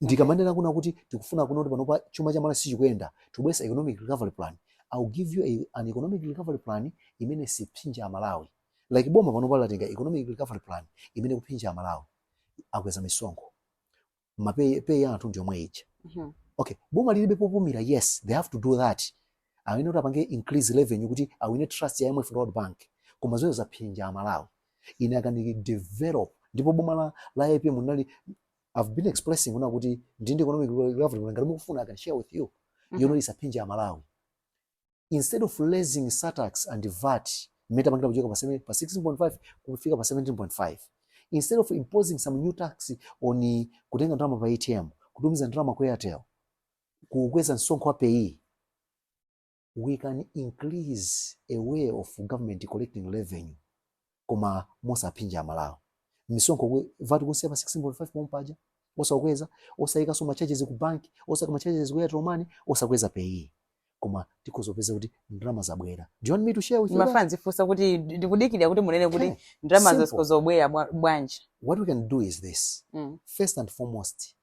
ndikamanena kuna kuti tikufuna kuna kuti panopa chuma cha Malawi sichikuyenda tikubweretsa economic recovery plan I will give you a, an economic recovery plan imene sipsinja Amalawi like boma panopa latenga economic recovery plan imene ikupsinja Amalawi akweza misonkho mapeyi peyi ya anthu ndi yomwe ija Mhm. okay boma lilibe popumira yes they have to do that amene kuti apange increase revenue kuti awine trust ya IMF ndi World Bank koma zoyo zapsinja Amalawi ine I can develop ndipo boma la, la APM linali I've been expressing kuna kuti ndili ndi economic recovery ngati mukufuna I can share with you. Mm -hmm. Yoti isaphinje Amalawi. Instead of raising surtax and VAT mmene tapangira kuchoka pa 7 pa 16.5 kufika pa 17.5. Instead of imposing some new tax on kutenga ndalama pa ATM, kutumiza ndalama kwa Airtel, kukweza msonkho wa pay we can increase a way of government collecting revenue koma mosaphinja amalawi misonkho kwe- VAT kuisiya pa 16.5 pomwe paja osakweza osayikanso ma charges ku banki osayika ma charges ku airtel money osakweza peyi koma tikhoza kupeza kuti ndalama zabwera do you want me to share with you that? ndimafuna ndizifunsa kuti ndikudikira kuti munene kuti Okay. ndalama Simple. za msonkho zibwera bwa- bwanji what we can do is this Mm. first and foremost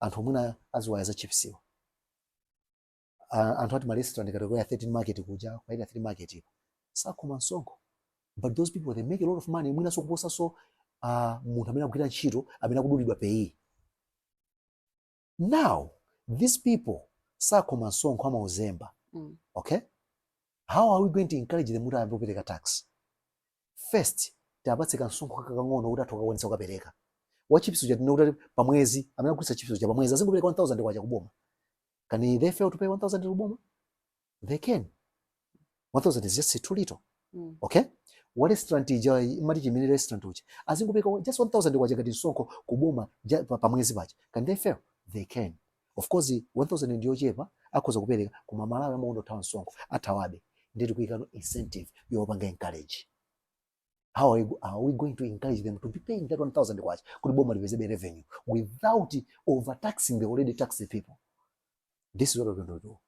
anthu mwina aziwaya za chipsiwa uh, anthu ati marestaurant kategory ya 13 market kuja kwa ile 3 market ipo sakoma msonkho but those people they make a lot of money mwina so kuposa so uh, munthu amene akugwira ntchito amene akudulidwa pay now these people sakoma msonkho amauzemba mm. okay how are we going to encourage them kuti ayambe kupereka tax first tiapatse kansonkho kakang'ono kuti athe kukwanisa kupereka wa chips uja tinene kuti pa mwezi amene akugulitsa chips uja pa mwezi azingopereka 1000 kwacha kuboma can they fail to pay 1000 to boma they can't 1000 is just too little Mm. okay wa restaurant ija imati chimene restaurant uja azingopereka just 1000 kwacha ngati msonkho kuboma ja- pa pa mwezi paja can they fail they can't Of course 1000 ndiyochepa akhoza kupereka koma Amalawi amakonda kuthawa msonkho athawabe ndiye tikuyikapo incentive yowapanga encourage how are, you, are we going to encourage them to be paying that 1000 kwacha kuti boma lipezebe revenue without overtaxing the already taxed people this is what we're going to do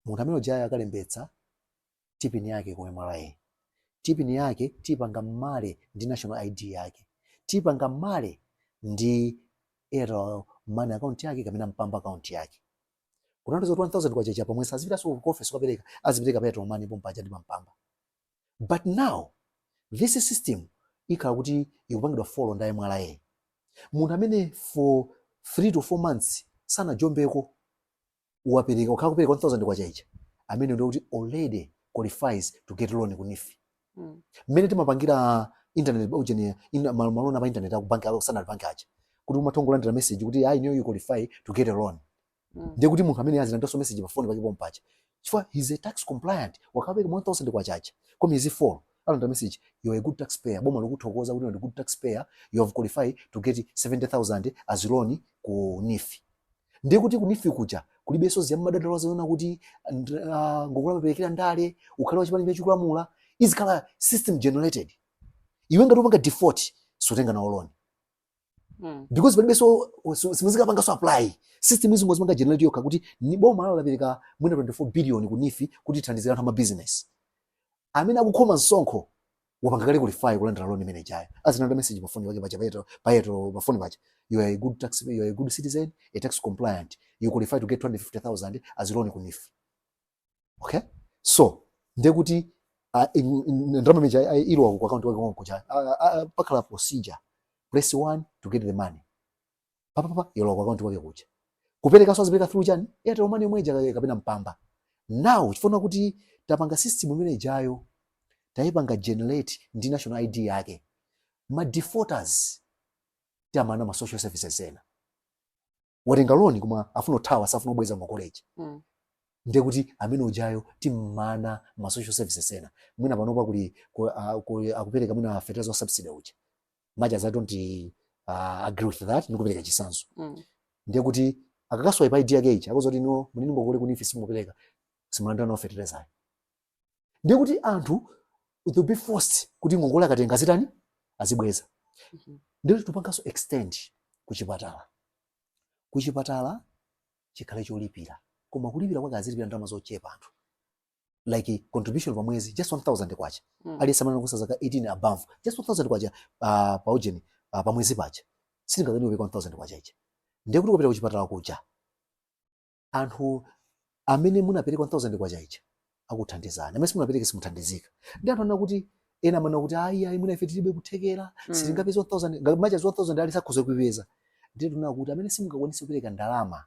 munthu amene ujayo akalembetsa TPIN yake ku MRA TPIN yake tipanga marry ndi national ID yake tipanga marry ndi airtel money account yake kapena mpamba account yake kutanthauza 1000 kwacha ija pa mwezi sazipitaso ku office kukapereka azipereka pa airtel money pompaja ndi pa mpamba but now this system ikhala kuti ikupangidwa follow ndi MRA munthu amene for 3 to 4 months sanajombeko kupereka wakhala akupereka 1000 kwacha ija ameneyo ndiye kuti already qualifies to get loan ku NEEF Mm. mmene timapangira internet ujeni ina ma loan a pa internet aku bank awo standard bank aja kuti umatha kulandira message kuti ayi inuyo you qualify to get a loan Mm. ndiye kuti munthu amene azilandiranso message pa phone pake pompaja chifukwa he's a tax compliant wakapereka 1000 kwacha ija kwa miyezi 4 alandira message you are a good taxpayer boma likuthokoza kuti you are a good taxpayer you have qualified to get 70000 as loan ku NEEF ndiye kuti ku NEEF kuja kulibenso za madandaulo azinena kuti nd- ah, ngongole amaperekera ndale ukhale wa chipani cholamula izikhala system generated iwe ngati upanga default sutenga nawo loan Mm. because palibe so so- simuzikapangaso apply system izingozipanga generate yokha kuti ayi boma lao lapereka mwina 24 billion ku NEEF kuti ithandizire anthu amabusiness amene akukhoma msonkho wapanga kale qualify kulandira loan imene ijayo azilandira message pafoni pake paja payeto payeto pafoni paja you are a good tax you are a good citizen a tax compliant you qualify to get 250000 as loan ku NEEF okay so ndiye kuti ah, in- in- in- ndalama imene ija ah, ilowa ku akaunti wake konkuja ah, ah, pakhala procedure press one to get the money papapapa ilowa ku akaunti wake kuja kuperekanso azipereka through chani airtel money yomwe ija ka- kapena mpamba now chifukwa kuti tapanga system imene ijayo tayipanga generate ndi national id yake ma defaulters tiwamana ma social services ena watenga loni koma afuna kuthawa safuna kubweza ngongole ija Mm. ndiye kuti amene ujayo timumana ma social services ena mwina panopa kuli ku- a- ku- akupereka mwina fertilizer wa subsidy uja much as i don't uh, agree with that ndikupereka chisanzo Mm. ndiye kuti akakaswa pa id yake ija ikuonetsa kuti no muli ndi ngongole ku neef simupereka simulandira nawo fertilizer ayi ndiye kuti anthu will be forced kuti ngongole akatenga azitani azibweza Mhm. ndiye tipanganso extend kuchipatala kuchipatala chikhale cholipira koma kulipira kwake azilipira ndalama zochepa anthu like contribution pa mwezi just 1000 kwacha Mm. aliyense amene anakwanitsa zaka 18 above just 1000 kwacha uh, pa ujeni uh, pa mwezi paja sitingakwanitse kupereka 1000 kwacha ija ndiye kuti kupita kuchipatala kuja anthu amene munapereka 1000 kwacha ija akuthandizani amene simunapereke simuthandizika ndiye anthu anena kuti ena amanena kuti ayi ayi mwina ife tilibe kuthekera Mm. sitingapeze 1000 ngati amene aja 1000 ali sakhoza kuipeza ndiye tinaona kuti amene simungakwanise kupereka ndalama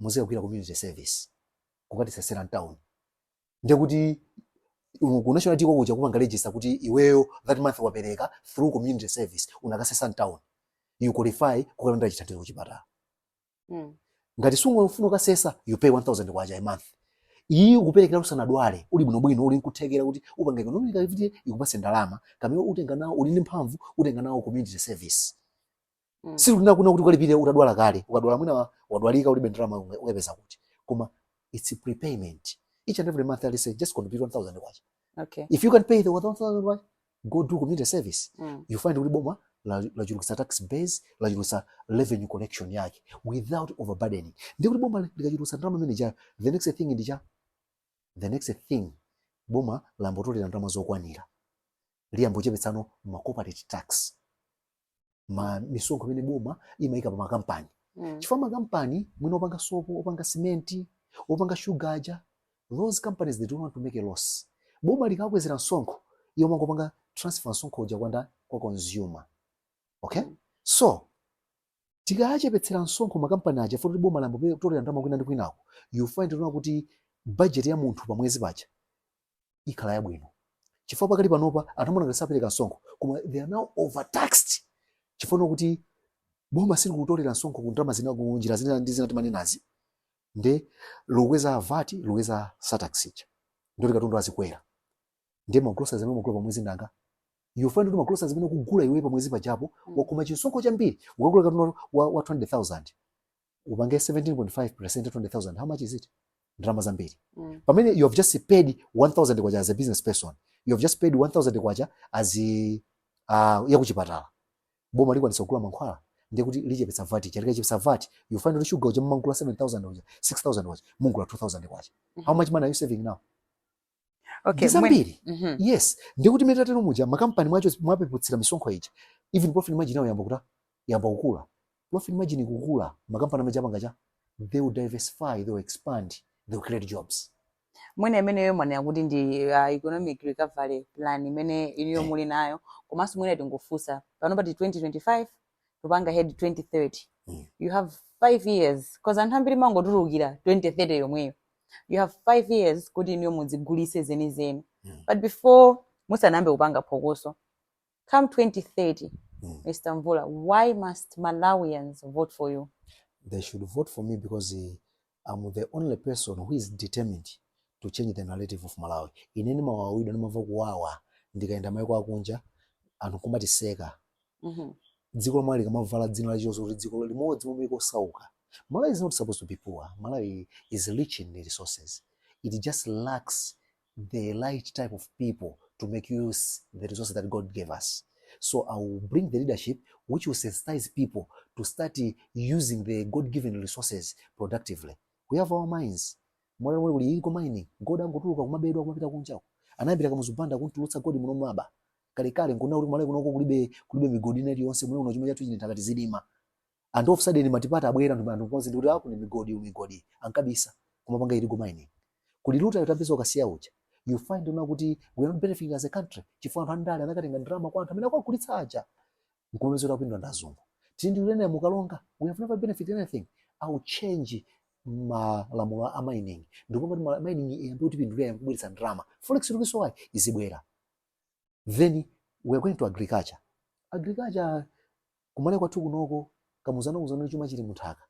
muzikagwira community service kukatisesera mtown ndiye kuti um, ku national id ko kuja kupanga register kuti iweyo that month wapereka through community service unakasesa mtown you qualify kukalandira chithandizo kuchipatala mm. ngati sukufuna kukasesa you pay 1000 kwacha a month iyi ukuperekera usanadwale uli bwinobwino uli nkuthekera kuti upange economic activity ikupase ndalama kapena utenga nawo uli ndi mphamvu utenga nawo community service mm. si kuti tikunena kuti ukalipire utadwala kale ukadwala mwina wadwalika ulibe ndalama ukaipeza kuti koma it's a prepayment each and every month I say just contribute 1000 kwacha okay if you can't pay the 1000 kwacha go do community service mm. you find kuti boma lachulukisa tax base lachulukisa revenue collection yake without overburdening ndiye kuti boma likachulukisa ndalama imene ijayo the next thing ndi chani the next thing boma layambotolera ndalama zokwanira liyambochepetsano ma corporate tax misonkho imene boma imayika pa makampani mm. chifukwa makampani mwina opanga sopo opanga simenti opanga shuga aja those companies they don't want to make a loss boma likakwezera msonkho iwo amangopanga transfer msonkho uja kwa ndani kwa consumer okay mm. so tikawachepetsera msonkho makampani aja poti boma layambotolera ndalama kwina ndi kwinako you find now kuti budget ya munthu pa mwezi paja ikhala yabwino chifukwa pakali panopa anthu amaona ngati sapereka msonkho koma they are now overtaxed chifukwa kuti boma silikutolera msonkho ku ndalama zina ku njira zina ndi zina timanenazi nde lokweza vat lokweza surtax ija ndiye kuti katundu azikwera ndiye ma groceries amene mumagula pamwezi mnzanga you find kuti ma groceries amene ukugula iwe pamwezi paja wakhoma chisonkho chambiri ukagula katundu wa, wa 20,000 upange 17.5 percent 20,000 how much is it ndalama zambiri mm. pamene you have just paid 1000 kwacha as a business person you have just paid 1000 kwacha as uh, yakuchipatala boma likwanisa kugula mankhwala ndiye kuti lichepetsa vat chabe tikachepetsa vat you find kuti shuga uja mumagula 7000 uja 6000 uja mugula 2000 kwacha how much money are you saving now okay, zambiri mm -hmm. yes ndiye kuti mmene tatero muja makampani aja mwawapeputsira misonkho ija even profit margin yawo yayamba kutani yayamba kukula profit margin ikukula makampani amene aja apanga chani they will diversify they will expand they will create jobs mwina imeneyo mwanena kuti ndi uh, economic recovery plan imene inuyo eh. muli nayo komanso mwina tingofunsa pano pati 2025 tikupanga head 2030 Mm. you have five years cause anthu ambiri mangotulukira 2030 yomweyo you have five years kuti inuyo mudzigulitse zenizeni Mm. but before musanayambe kupanga phokoso come 2030 Mm. mr mvula why must malawians vote for you they should vote for me because eh, am the only person who is determined to change the narrative of malawi ine ndimawawidwa ndimamva kuwawa ndikayenda maiko akunja anthu kumatiseka Mhm. dziko la malawi likamavala dzina la chitonzo kuti dziko limodzi mwa maiko osauka malawi is not supposed to be poor malawi is rich in resources it just lacks the right type of people to make use the resources that God gave us. So I will bring the leadership which will sensitize people to start using the God-given resources productively. We have our mines. Mwaona mmene kulili ku mining. Gold akungotuluka kumabedwa kumapita kunjako. Anayambira Kamuzu Banda kumutulutsa gold muno mwakuba. Kale kale nkumanena kuti ku Malawi kunoko kulibe kulibe migodi nthawi yonse muno chuma chatu chili m'nthaka tizilima. and of sudden multiparty abwera anthu anthu konse ndikuti ah kuli migodi eh migodi ankabisa kumapanga illegal mining kuli rutile tapeza ku kasiya uja you find kuti we are not benefiting as a country chifukwa anthu andale anakatenga ndalama kwa anthu amene akuwagulitsa aja nkumapeza kuti apindula ndi azungu tili ndi uranium ku karonga we have never benefited anything i will change malamulo a mining ndikuti mining iyambe kutipindulira iyambe kubweretsa ndalama forex ikusowayi izibwera then we're going to agriculture agriculture ku malawi kwathu kunoko kamuzu anatiuza chuma chili muthaka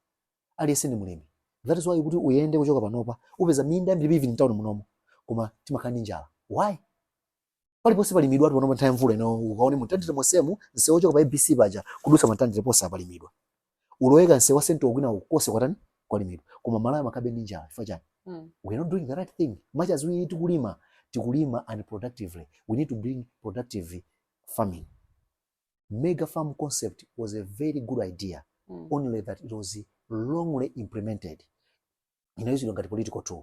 aliyense ndi mlimi that is why kuti uyende kuchoka panopa upeza minda yambiri even mtown momwemuno koma timakhala ndi njala why paliponse palimidwa panopa nthawi ya mvula ino ukaone mu mtandire monsemu msewu wochoka pa abc paja kudutsa ku mtandire ponse apalimidwa ulowe kanse wa sento kwina uko konse kwatani kwalimidwa koma malawi makabe ndi njala chifukwa chani Mm. we are not doing the right thing much as we tikulima tikulima unproductively we need to bring productive farming mega farm concept was a very good idea Mm. only that it was wrongly implemented inayozidwa ngati political tool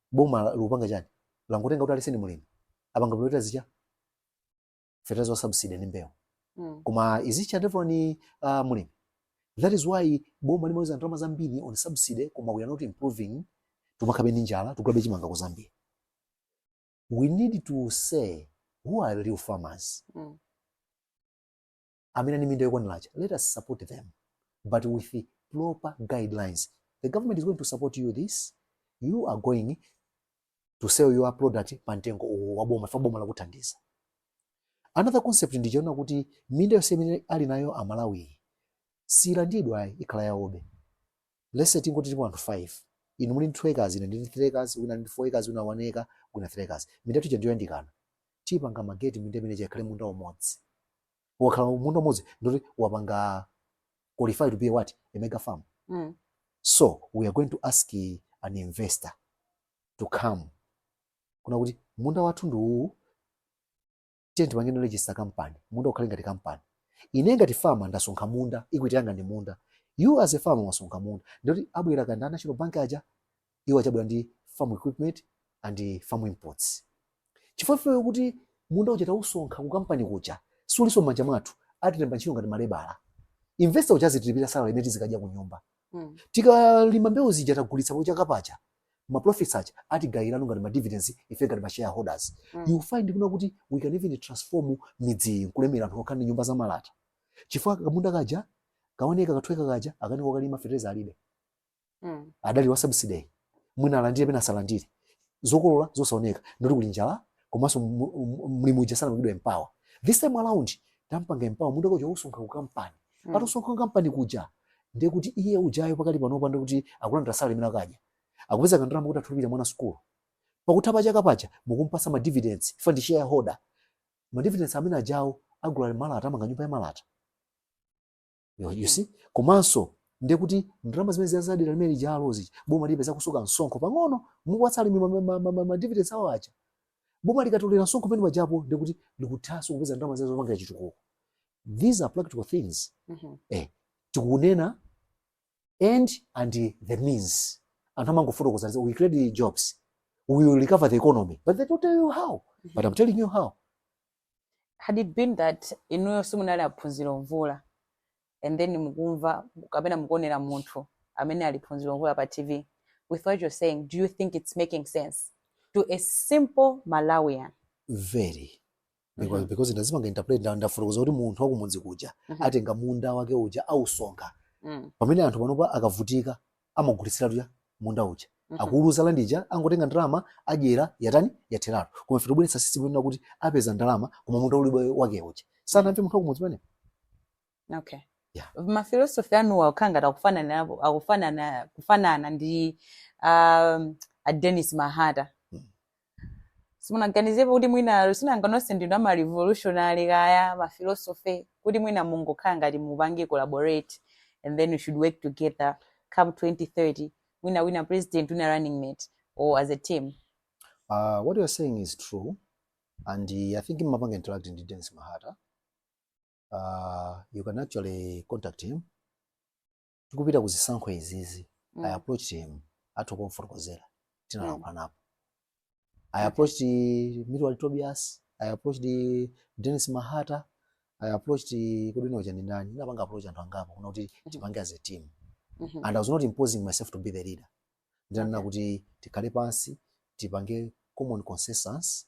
boma likupanga chiyani langotenga kuti aliyense ndi mulimi apanga bwino zija fertilizer wa subsidy ndi mbewu mm. koma izicha ndivyo ni uh, mulimi that is why boma limamwaza ndalama zambiri on subsidy koma we are not improving timakhalabe ndi njala tikugulabe chimanga ku Zambia we need to say who are real farmers mm. amene ali ndi minda yokwanira aja let us support them but with the proper guidelines the government is going to support you this you are going to sell your product pa mtengo uwu wa boma chifukwa boma lakuthandiza another concept ndi chonena kuti minda yonse imene ali nayo amalawi siyilandidwa ayi ikhala yawobe let's say tingoti tilipo anthu 5 inu muli ndi 2 acres ine ndili ndi 3 acres wina ndi 4 acres wina 1 acre wina 3 acres minda tija ndi yoyandikana tipanga merge minda imene ikhale munda umodzi wakhala munda umodzi ndiye kuti wapanga qualify to be what a mega farm mm. so we are going to ask an investor to come kunena kuti munda wathu ndi uwu tiye tipangene register company munda ukhale ngati company ine ngati farmer ndasonkha munda equity yanga ndi munda you as a farmer wasonkha munda ndiye kuti abwera kaya ndi a National Bank aja iwo adzabwera ndi farm equipment and farm inputs chifukwa ifeyo kuti munda uja tausonkha ku kampani kuja sulinso m'manja mwathu atilemba ntchito ngati ma labourer investor uja azitilipira salary imene tizikadya ku nyumba Mm. tikalima mbewu zija tagulitsa pachaka paja ma profits aja atigayirenso ngati ma dividends ife ngati ma shareholders Mm. you find kunena kuti we can even transform midzi iyi nkulemera anthu okhala ndi nyumba za malata chifukwa kamunda kaja kaoneka kathweka kaja akanika kukalima fertilizer alibe Mm. adalira wa subsidy mwina alandire pena asalandire zokolola zosaoneka ndiye kuti kuli njala komanso mu- mu- mlimi uja sanapangidwa empower this time around tampanga empower munda wake uja ausonkha ku kampani Mm. atausonkha ku kampani kuja ndiye kuti iye ujayo pakali panopa ndi kuti akulandira salary imene akudya akupeza kandalama kuti amulipirira mwana sukulu pakutha pa chaka paja mukumpatsa ma dividends chifukwa ndi shareholder ma dividends amene ajawo agula malata amanga nyumba ya malata you, you see komanso ndiye kuti ndalama zimene zija za dera limene lijalo boma lipeza kusonkha msonkho pamene mukuwapatsa alimi ma- ma- ma- ma- ma dividends awo aja boma likatolera msonkho pamene pajapo ndiye kuti likuthanso kupeza ndalama zimene zopangira chitukuko these are practical things Mhm. tikunena end and the means anthu amangofotokoza kuti we create jobs we will recover the economy but they don't tell you how but i'm telling you how had it been that inuyo simunali a Phunziro Mvula and then mukumva kapena mukuonera munthu amene ali Phunziro Mvula pa tv with what you're saying do you think it's making sense to a simple malawian very because mm -hmm. because ndazipanga interpret nda ndafotokoza kuti munthu wakumudzi kuja mm -hmm. atenga munda wake uja ausonkha mm. pamene anthu panopa akavutika amagulitsiratu cha munda uja Mhm. akagulitsa landi ija angotenga ndalama adyera yatani yatheratu koma ife tobweretsa system yonena kuti apeza ndalama koma munda ulibe wake uja sanamve munthu wakumudzi pamene okay Yeah. mafilosofi anuwa akukhala ngati akufanana napo- akufanana kufanana ndi um, a Dennis Mahata Mm. simunaganizepo kuti mwina si nanga nonse ndinu ama revolutionary kaya ma philosophy kuti mwina mungokhala ngati mupange collaborate and then we should work together come 2030 mwina wina president wina running mate or as a team uh, what you're saying is true and uh, i think mumapanga interact ndi dennis mahata uh, you can actually contact him tikupita ku zisankho izizi mm. i approached him athu kumfotokozera tinalankhulanapo mm. i approached okay. Milward Tobias i approached Dennis Mahata I approached Kudino Janindani. Napanga approach and Angama. Kuna uti, mm-hmm. tipange as a team. Mm -hmm. And I was not imposing myself to be the leader. ndinanena kuti tikhale pansi tipange common consensus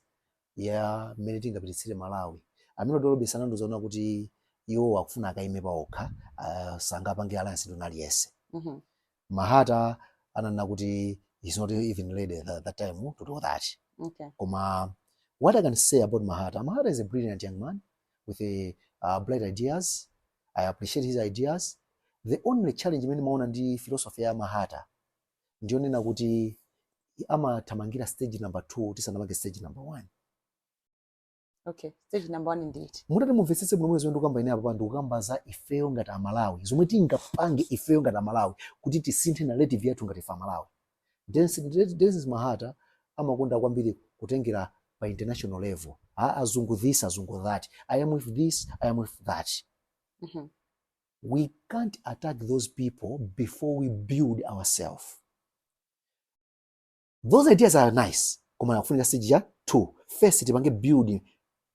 ya mmene tingapititsire Malawi. Amene a Dolo bwe anandiuza kunena kuti iwowo akufuna akaime paokha, ah, sangapange alliance ndi wina aliyense. Mhm. Mahata ananena kuti he's not even ready tha- that time to do that. Okay. Koma what I can say about Mahata, Mahata is a brilliant young man with a, uh, bright ideas. I appreciate his ideas. The only challenge imene ndimaona ndi philosophy ya Mahata ndiyonena kuti amathamangira stage number 2 tisanamange stage number 1. Okay, stage number 1 ndi iti? Mutati mumvetsetse bwino zomwe ndikukamba ine apa ndikukamba za ifeyo ngati Amalawi. Zomwe tingapange ifeyo ngati Amalawi kuti tisinthe narrative yathu ngati ife Amalawi. Denis Denis Mahata amakonda kwambiri kutengera pa international level a azungu this azungu that I am with this I am with that Mhm. we can't attack those people before we build ourselves those ideas are nice koma akufunika stage ya two first tipange build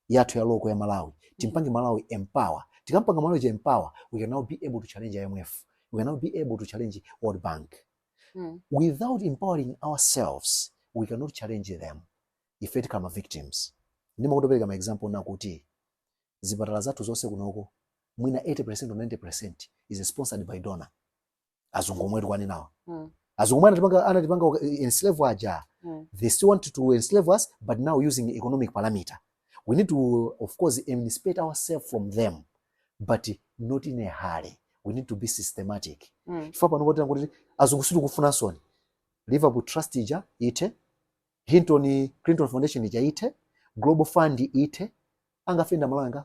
yathu ya local ya Malawi timpange Malawi empower tikampanga Malawi uja empower we can now be able to challenge IMF we can now be able to challenge World Bank mm. without empowering ourselves we cannot challenge them ife tikhala ma victims ndimatha kupereka ma example nakuti zipatala zathu zonse kunoko mwina 80% or 90% is sponsored by donors azungu omwe tikwaninawa mm. azungu omwe anatipanga anatipanga eh, enslave aja mm. they still want to enslave us but now using economic parameter we need to of course emancipate ourselves from them but not in a hurry we need to be systematic mm. chifukwa pano kuti kuti azungu sili kufuna soni liverpool trust ija ithe hinton clinton foundation ija ithe global fund ithe angafenda malanga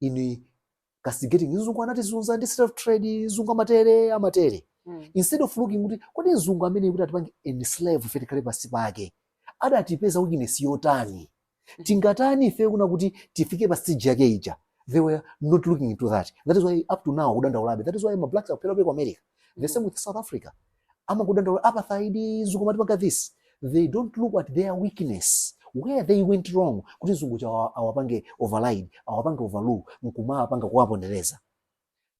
in castigating mzungu anatizunza ndi slave trade mzungu amatere amatere Mm. instead of looking kuti kodi mzungu amene kuti atipange enslave ife tikhale pansi pake adatipeza weakness yotani tingatani ife kuna kuti tifike pa stage yake ija they were not looking into that that is why up to now akudandaulabe that is why ma blacks akuphedwabe ku america the same with south africa amangodandaula apartheid mzungu amatipanga this they don't look at their weakness where they went wrong kuti mzungu uja awa- awapange override awapange overlook nkumawapanga kuwapondereza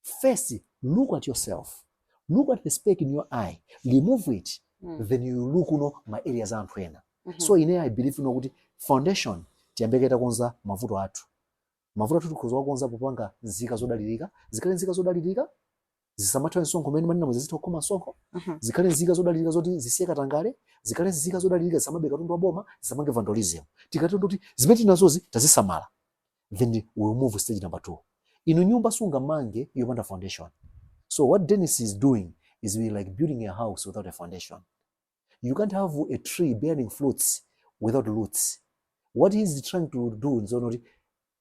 first look at yourself look at the speck in your eye remove it Mm. then you look no ma areas a anthu ena Mhm. so ine i believe no kuti foundation tiyambe kaye takonza mavuto athu mavuto athu tikhoza kuwakonza popanga nzika zodalirika zikhale nzika zodalirika zisamathawe msonkho umene mumanena zizitha kukhoma msonkho Mhm. zikhale nzika zodalirika zoti zisiye katangale zikhale nzika zodalirika zisamabe katundu wa boma zisamapange vandalism tikationa kuti zimene tinazozi tazisamala then we will move stage number two inu nyumba simungamange yopanda foundation so what dennis is doing is we like building a house without a foundation you can't have a tree bearing fruits without roots what he is trying to do nzono kuti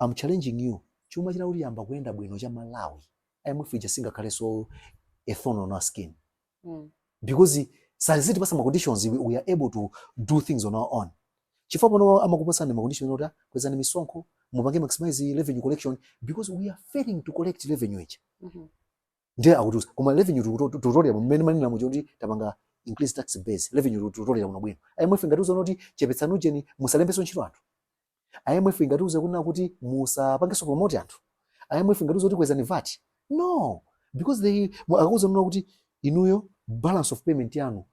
I'm challenging you chuma chikhoza kuyamba kuyenda bwino cha malawi imf ija singakhalenso a thorn on our skin mm. because sazitipatsa ma conditions we, we are able to do things on our own chifukwa pano amakupatsani ma condition oti kwezani misonkho mupange maximize revenue collection because we are failing to collect revenue ija mm -hmm. ndiye akutiuza koma revenue tikuto- tikutolera mmene mumanenera muja kuti tapanga increase tax base revenue tikutolera bwinobwino imf ingatiuza kuti chepetsani ujeni musalembenso ntchito anthu imf ingatiuza kunena kuti musapangenso promote anthu imf ingatiuza kuti kwezani vat no because they mu- akuuzani kuti inuyo balance of payment yanu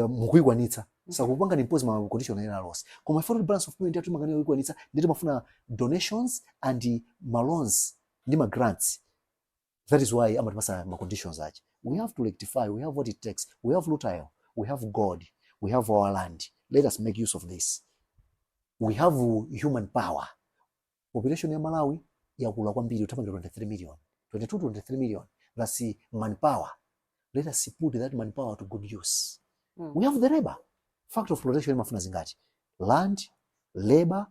mukuikwanitsa sakupangani impose ma condition ena aliwonse koma ife poti balance of payment yathu timakanika kuikwanitsa ndiye timafuna donations and ma loans ndi ma grants that is why amatipatsa ma conditions ache we have to rectify we have what it takes we have rutile we have gold we have our land let us make use of this we have human power population ya Malawi yakula kwambiri ikuthamangira 23 million 22 to 23 million that's manpower let us put that manpower to good use Mm. we have the labor factor of production imafuna zingati land labor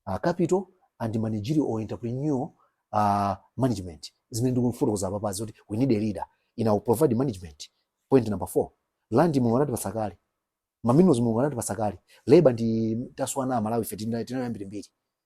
uh, capital and managerial or entrepreneurial uh, management zimene ndikufotokoza apa basi kuti we need a leader amene apange provide management point number four land mulungu anatipatsa kale ma minerals mulungu anatipatsa kale labor ndiye taswana amalawi ife tina- tinayo yambirimbiri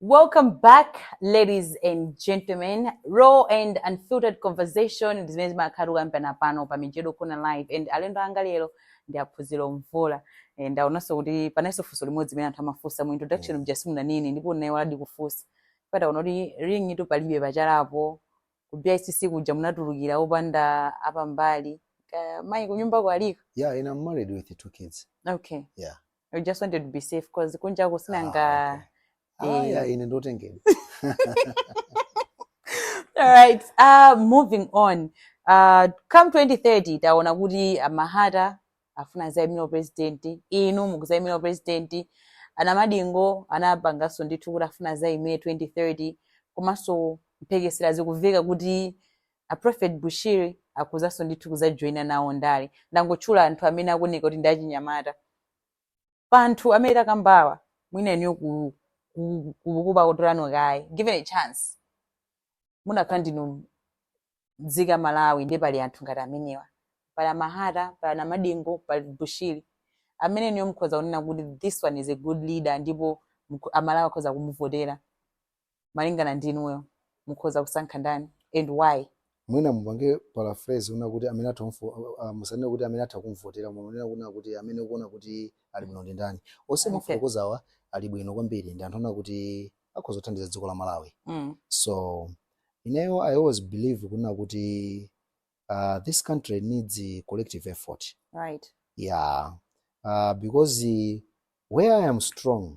Welcome back, ladies and gentlemen. Raw and unfiltered conversation ndi zimene zimakhala zikukambidwa pano pa Mijedo Corner Live and alendo anga lero ndi a Phunziro Mvula. Eh, Ndaonanso kuti palinso funso limodzi limene anthu amafunsa mu introduction muja simunanene ndipo naye wayala kufunsa. Taona kuti ring-itu palibe pachalapo. Ku BICC kuja munatulukira opanda apambali. Uh, mayi kunyumba aliko. Yeah, and I'm married with two kids. Okay. Yeah. I just wanted to be safe cause kunjako sinanga Ah, okay. Ah, Eh. yeah, ine ndi wotengedwa alright uh, moving on uh, come 2030 taona kuti uh, a Mahata afuna azayimire president inu mukuzayimira president a Namadingo anapanganso ndithu kuti afuna azayimire 2030 komanso mphekesera zikuveka kuti A prophet Bushiri akhozanso ndithu kuzajoina nawo ndale. Ndangotchula anthu amene akuoneka kuti ndi achinyamata. Pa anthu amene takambawa, mwina inuyo ku ku- ku- kubakuti kwanu kaya. Given a chance. Munakhala ndinu mzika Malawi ndiye pali anthu ngati amenewa. Pali a Mahata, pali a Namadingo, pali Bushiri. Amene inuyo mukhoza kunena kuti this one is a good leader ndipo mukho- a Malawi akhoza kumuvotera. malingana ndi inuyo mukhoza kusankha ndani and why mwina mupange paraphrase kunena kuti amene atha kumvo- uh, uh, musanene kuti amene atha kumvotera koma munene kunena kuti amene mukuona kuti ali bwino ndi ndani onse Okay. mwafotokozawa ali bwino kwambiri ndi anthu onena kuti akhoza kuthandiza dziko la malawi mm. so ineyo i always believe kunena kuti uh, this country needs a collective effort right yeah uh, because uh, where i am strong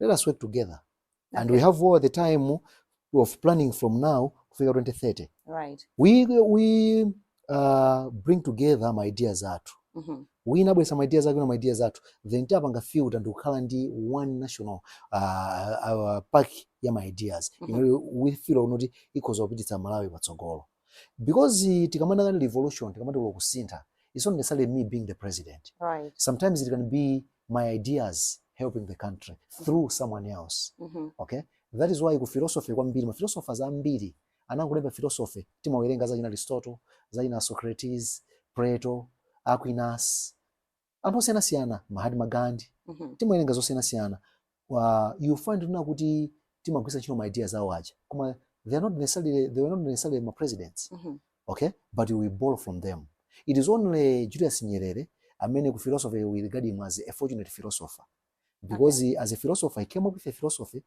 let us work together okay. and we have all the time of planning from now kufika 2030 right. we, we uh, bring together my ideas athu mm -hmm. wina abwesa ma ideas ake na ma ideas athu then tapanga field and ukhala ndi one national uh, uh, park ya ma ideas mm -hmm. you know, we feel unoti ikhoza kupititsa malawi patsogolo because tikamanena nkhani ya revolution tikamanena kuti kusintha it's not necessarily me being the president right. sometimes it can be my ideas helping the country through someone else mm -hmm. okay that is why ku philosophy kwambiri ma philosophers ambiri anangolemba philosophy timawerenga za achina aristotle za achina socrates plato aquinas anthu osiyanasiyana mahatma gandhi Mhm. timawerenga zosiyanasiyana Wa- you find kunena kuti timagwiritsa ntchito ma ideas awo aja koma they are not necessarily they were not necessarily ma presidents Mhm. okay but we borrow from them it is only julius nyerere amene ku philosophy we regard him as a fortunate philosopher because he, as a philosopher he came up with a philosophy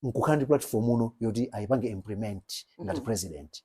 nkukhala ndi platform muno yoti ayipange implement ngati Mhm. president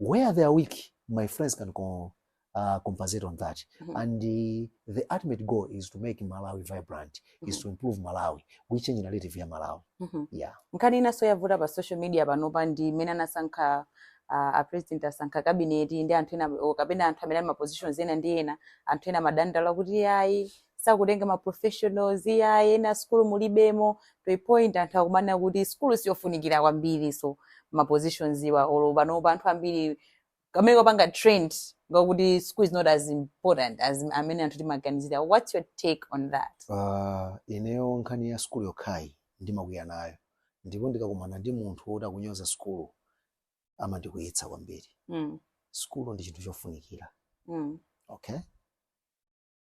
where they are weak my friends can co- uh, compensate on that mm -hmm. and the, the ultimate goal is to make malawi vibrant mm -hmm. is mm-hmm. to improve malawi we change narrative ya malawi mm -hmm. yeah nkhani inanso yavuta pa social media panopa ndi mmene anasankha uh, a president asankha kabineti ndi anthu ena kapena anthu amene ali ma positions ena ndi ena anthu ena amadandaula kuti ayi sakutenga ma professionals iyayi ena sukulu mulibemo to a point anthu akumanena kuti sukulu siyofunikira kwambiri so ma positions awa olo panopa anthu ambiri kamene kapanga trend ngakuti school is not as important as mmene anthu timaganizira what's your take on that uh, ineyo nkhani ya sukulu yokhayi ndimakwiya nayo ndipo ndikakumana ndi munthu woti akunyoza sukulu amandikwiyitsa kwambiri mm. sukulu ndi chinthu chofunikira mm. okay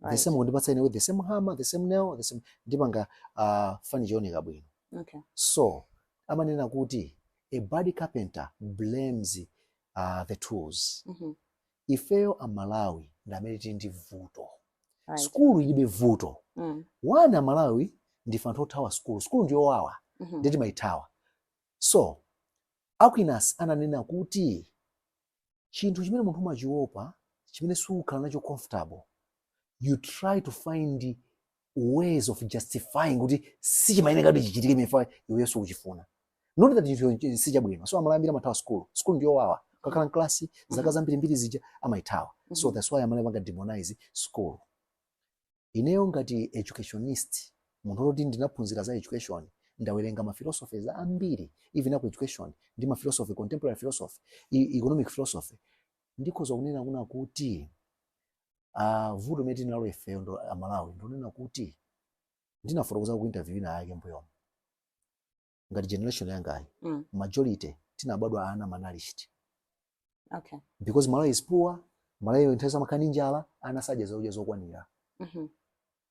the Right. same kundipatsa ine with the same hammer the same nail the same ndipanga uh, furniture yooneka bwino Okay. so amanena kuti a bad carpenter blames uh, the tools Mhm. ifeyo amalawi ndi amene tili ndi vuto Right. skulu ilibe vuto Mm. one amalawi ndife anthu othawa skulu skulu ndiyowawa Mhm. nde timaithawa so aquinas ananena kuti chinthu chimene munthu umachiopa chimene sukhala nacho comfortable you try to find ways of justifying kuti sichimayeneka kuti chichitike chifukwa iweyo sukuchifuna not that chinthu sichabwino so amalawi ambiri amathawa school school ndiyowawa kakhala mklasi zaka zambirimbiri zija amaithawa so that's why amalawi amapanga demonize school Ineyo ngati educationist, munthu woti ndinaphunzira za education, ndawerenga ma philosophies ambiri, even a ku education, ndi ma philosophy, contemporary philosophy, economic philosophy, ndikhoza kunena kuna kuti vuto limene tili nalo ifeyo Amalawi ndonena kuti, ndinafotokozako ku interview inayake m'mbuyomu, ngati generation yangayi mm. majority tinabadwa ana malnourished okay. because malawi is poor malawi nthawi zonse amakhala ndi njala ana sadya zakudya zokwanira mm -hmm.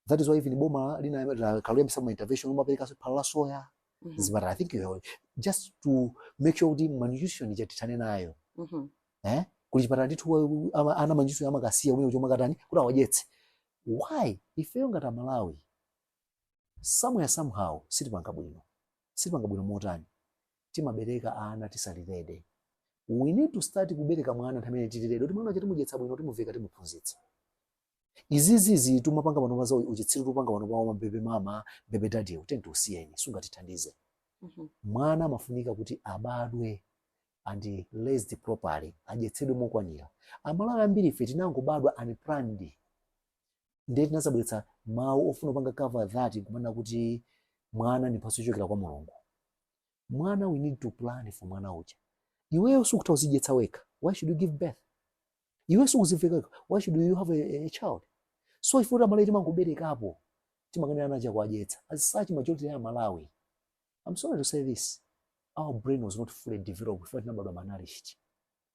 that is why even boma linakayambitsa ma intervention kumaperekaso phala la soya mm -hmm. mzipatala i think you know, just to make sure kuti malnutrition ija tithane nayo mm -hmm. eh? kuli chipatala ndithu ana a malnutrition amakasiya umene chomwe katani kuti awadyetse why ifeyo ngati amalawi Somewhere somehow sitipanga bwino. Sitipanga bwino motani? Timabereka ana tisali ready. We need to start kubereka mwana nthawi imene tili ready kuti mwana uja timudyetsa bwino, timuveka, timuphunzitsa. Izizi izi tumapanga panopa za uchitsiru tupanga panopa za ma baby mama, baby daddy, uteniteni tiusiyeni, sungatithandize. Mhm. Mwana amafunika kuti abadwe and raised properly, adyetsedwe mokwanira. Amalawi ambiri ife tinangobadwa unplanned. ndiye tinazabweretsa mawu ofuna kupanga cover that kumanena kuti mwana ndi mphatso yochokera kwa mulungu mwana we need to plan for mwana uja iweyo sukutha kuzidyetsa wekha why should you give birth iwe sukuziveka wekha why should you have a, a child so ife ngati amalawi timangoberekapo timakanika ana chowadyetsa as such majority ya malawi i'm sorry to say this our brain was not fully developed ife tinabadwa malnourished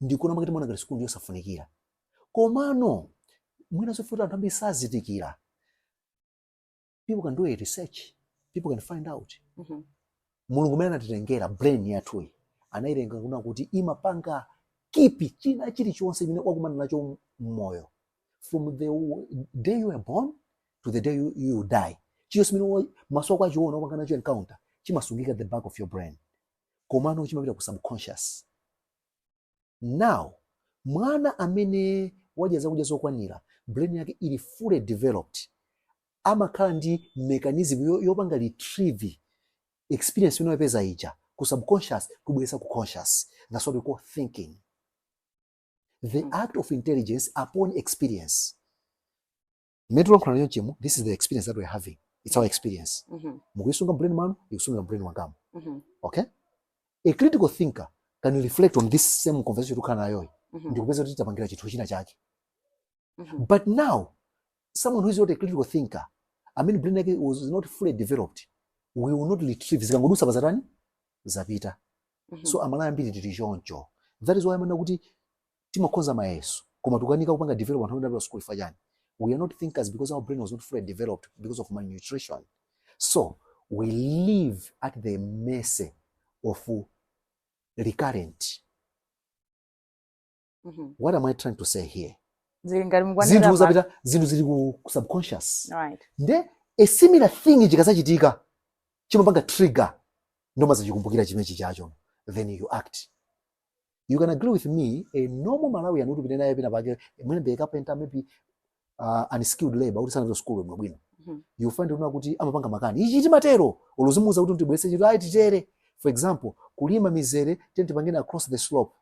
ndi chifukwa chake timaona ngati sukulu ndi yosafunikira komano mwina zoti anthu ambiri sazindikira people can do a research people can find out Mhm. mulungu amene anatilengera brain yathuyi anailenga kuna kuti imapanga keep china chilichonse chimene wakumana nacho mmoyo from the w- day you were born to the day you, you die chilichonse chimene wa- maso ako achiona wapanga nacho encounter chimasungika at the back of your brain komano chimapita ku subconscious now mwana amene wadya zakudya zokwanira brain yake ili fully developed amakhala ndi mechanism yo- yopanga retrieve experience imene wapeza ija ku subconscious kubweretsa ku conscious that's what we call thinking the act of intelligence upon experience mmene tikulankhulana chonchemu this is the experience that we're having it's our experience Mhm. mukuyisunga mbrain mwanu ndikusunga mbrain wangamu Mhm. okay a critical thinker can reflect on this same conversation tikukhala nayoyi Mhm. ndikupeza kuti tapanga chinthu china chake Mhm. but now someone who is not a critical thinker amene brain yake was not fully developed we will not retrieve zikangodutsa basi zatani zapita Mhm. so Amalawi ambiri tili choncho that is why umaona kuti Timakhoza mayeso koma tukanika kupanga develop anthu amene adapita school chifukwa chani? We are not thinkers because our brain was not fully developed because of malnutrition. So we live at the mercy of recurrent. Mm -hmm. What am I trying to say here? Zinthu zapita zinthu zili ku subconscious. Right. Nde a similar thing chikadzachitika chimapanga trigger nde umadzachikumbukira chimene chichacho then you act you can agree with me a normal malawian kuti upite naye pena pake mwina ndi kapenta maybe uh, unskilled labor kuti sanapita sukulu bwino bwino Mhm. you find uona kuti amapanga makani ichi chimatere olo uzimuuza kuti tibweze ichi ayi titere for example kulima mizere tiyeni tipangeni across the slope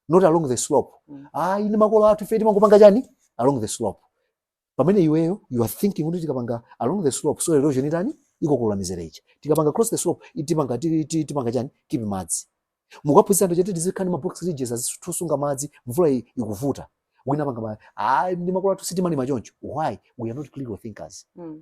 not along the slope Mm. ayi ndi makolo athu ife timangopanga chani along the slope pamene iweyo you are thinking kuti tikapanga along the slope soil erosion itani ikokolola mizere ija tikapanga across the slope itipanga ti- ti- tipanga chani keep madzi mukaphunzitsa anthu kuti tiziika ma box ridges azitusunga madzi mvula i- ikuvuta wina apanga makani ah ndi makolo athu sitimalima choncho why we are not critical thinkers Mm.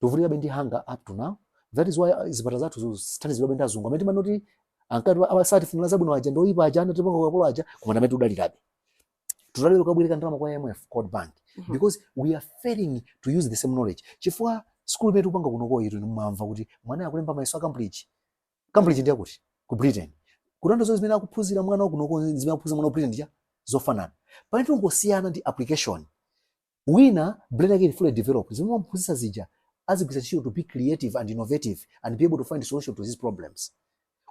tikuvutikabe ndi hunger up to now that is why uh, zipata zathu zikuthandizidwabe ndi azungu amene timanena kuti ankati osatifunira zabwino aja ndi oyipa aja anatipanga ukapolo aja koma amene tudalirabe tudalira kukabwereka ndalama kwa IMF World Bank mhm. because we are failing to use the same knowledge chifukwa school imene tikupanga kunokoyi inu mumamva kuti mwana akulemba mayeso a Cambridge Cambridge ndi ya kuti ku Britain kutanthauza zonse zimene akuphunzira mwana wa kunoko ndi zimene akuphunzira mwana wa Britain ndiye zofanana pamene tingosiyana ndi application wina brain yake ili fully developed zimene mwamuphunzitsa zija azigwiritsa ntchito to be creative and innovative and be able to find solution to these problems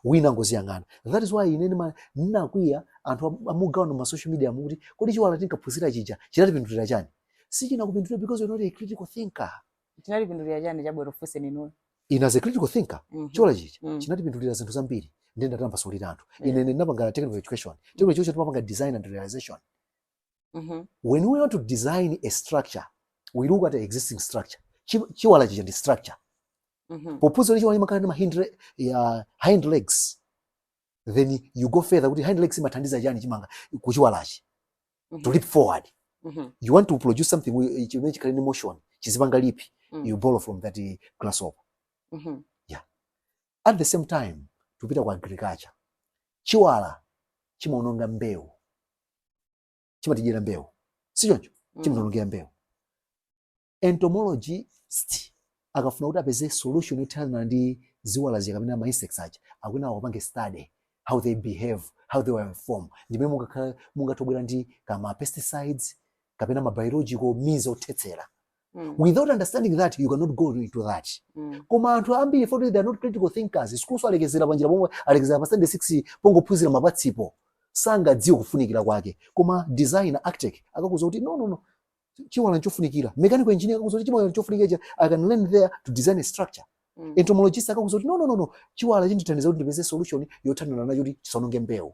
wina angoziyang'ana that is why ine ndima- ndinakwiya anthu am- amagawana ma social media umu kuti kodi chiwala tinkaphunzira chija chinatipindulira chani sichinakupindulira because you're not a critical thinker chinatipindulira chani chabwino ndifunseni inuyo ine as a critical thinker Mhm. chiwala chija Mm. chinatipindulira zinthu zambiri ndi ndatambasulire anthu Yeah. ine ine ndinapanga technical education technical education timapanga design and realization mm -hmm. when we want to design a structure we look at the existing structure chiwala chija ndi structure mm -hmm. pophuza chiwala chimakhala ndi ma hind, uh, hind legs then you go further kuti hind legs imathandiza chani chimanga kuchiwalachi mm -hmm. to leap forward mm -hmm. you want to produce something chimene chikhale ndi motion chizipanga lipi mm -hmm. you borrow from that uh, grasshopper mm -hmm. yeah at the same time tupita kwa agriculture chiwala chimaononga mbewu chimatidyera mbewu si choncho Mm. chimationongera mbewu entomologist akafuna kuti apeze solution yothana ndi ziwala zija kapena ma insects aja akuyenera apange study how they behave how they were formed ndimene mungakhala mungathe kubwera ndi kama pesticides kapena ma biological means othetsera Mm. without understanding that you cannot go into that Mm. koma anthu ambiri poti they are not critical thinkers sukulunso alekezera panjira pomwe alekezera pa standard 6 pongophunzira mapatsipo sangadziwe kufunikira kwake koma designer architect akakuuza kuti no no no chiwala nchofunikira mechanical engineer akakuuza kuti chiwala nchofunikira cha- i can learn there to design a structure Mm. entomologist akakuuza kuti no no no no chiwala chindithandiza kuti ndipeze solution yothanirana nacho kuti chisaononge mbewu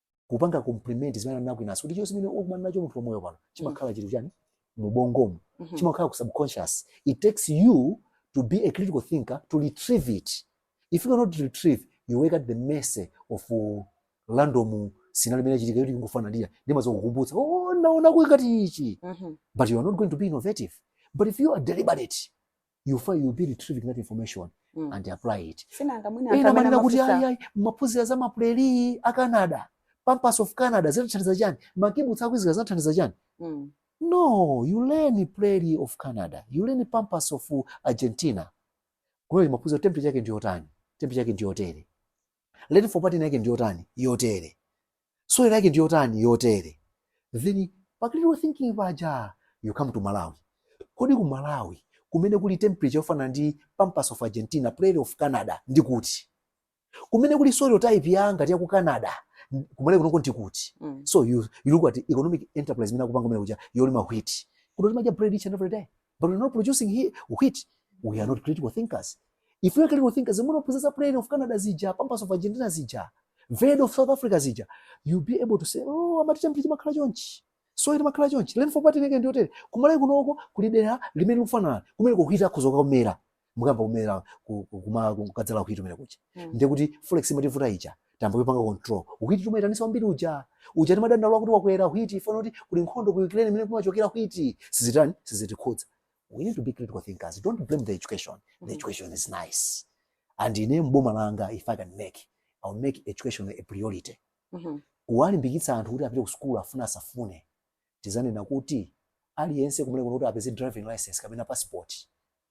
kupanga compliment zimene anena kwinaso kuti chonse chimene ukumana nacho munthu pamoyo pano chimakhala chili chani mubongomu Mhm. chimakhala ku subconscious it takes you to be a critical thinker to retrieve it if you cannot retrieve you work at the mercy of uh, random scenario imene ichitika yoti kungofananira ndimazo kukumbutsa oh naona kuti ngati ichi Mhm. but you are not going to be innovative but if you are deliberate you find you be retrieving that information mm. and apply it si nanga mwina ena amanena kuti ayi ayi maphunzira za ma prairie a Canada pampas of Canada zinathandiza chani ma kibbutz aku Israel zinathandiza chani mm. no you learn prairie of Canada you learn pampas of Argentina kumaphunzira temperature yake ndi yotani temperature yake ndi yotere Rainfall pattern yake ndi yotani? Yotere. Soil yake ndi yotani? Yotere. Then pa critical thinking paja you come to Malawi. Kodi ku Malawi kumene kuli temperature yofanana ndi Pampas of Argentina, Prairie of Canada ndi kuti? Kumene kuli soil type ya ngati ya ku Canada n- kumene kunoko ndi kuti? Mm. So you, you look at economic enterprise imene akupanga kumene kuja yolima wheat. Kuno timadya bread each and every day. but we're not producing here wheat we are not critical thinkers if we are critical thinkers munaphunzira prairie of canada zija pampas of argentina zija veld of south africa zija you'll be able to say oh amati temperature imakhala chonchi soil imakhala chonchi rainfall pattern yake ndi yotere ku malawi kunoko kuli dera limene likufanana kumeneko wheat akhoza kumera mukayamba kumera ku- ku- kuma- ku- kukadzala wheat kumene kuja Mm. ndiye kuti forex imativuta ija tayamba kuipanga control wheat timayitanisa wambiri uja uja timadandaula kuti wakwera wheat chifukwa kuti kuli nkhondo ku ukraine imene kumachokera wheat sizitani sizitikhudza we need to be critical thinkers don't blame the education the Mhm. education is nice and ine mboma langa if i can make i will make education a priority Mhm. kuwalimbikitsa anthu kuti apite ku sukulu afune asafune tizanena kuti aliyense kumene kuno kuti apeze driving license kapena passport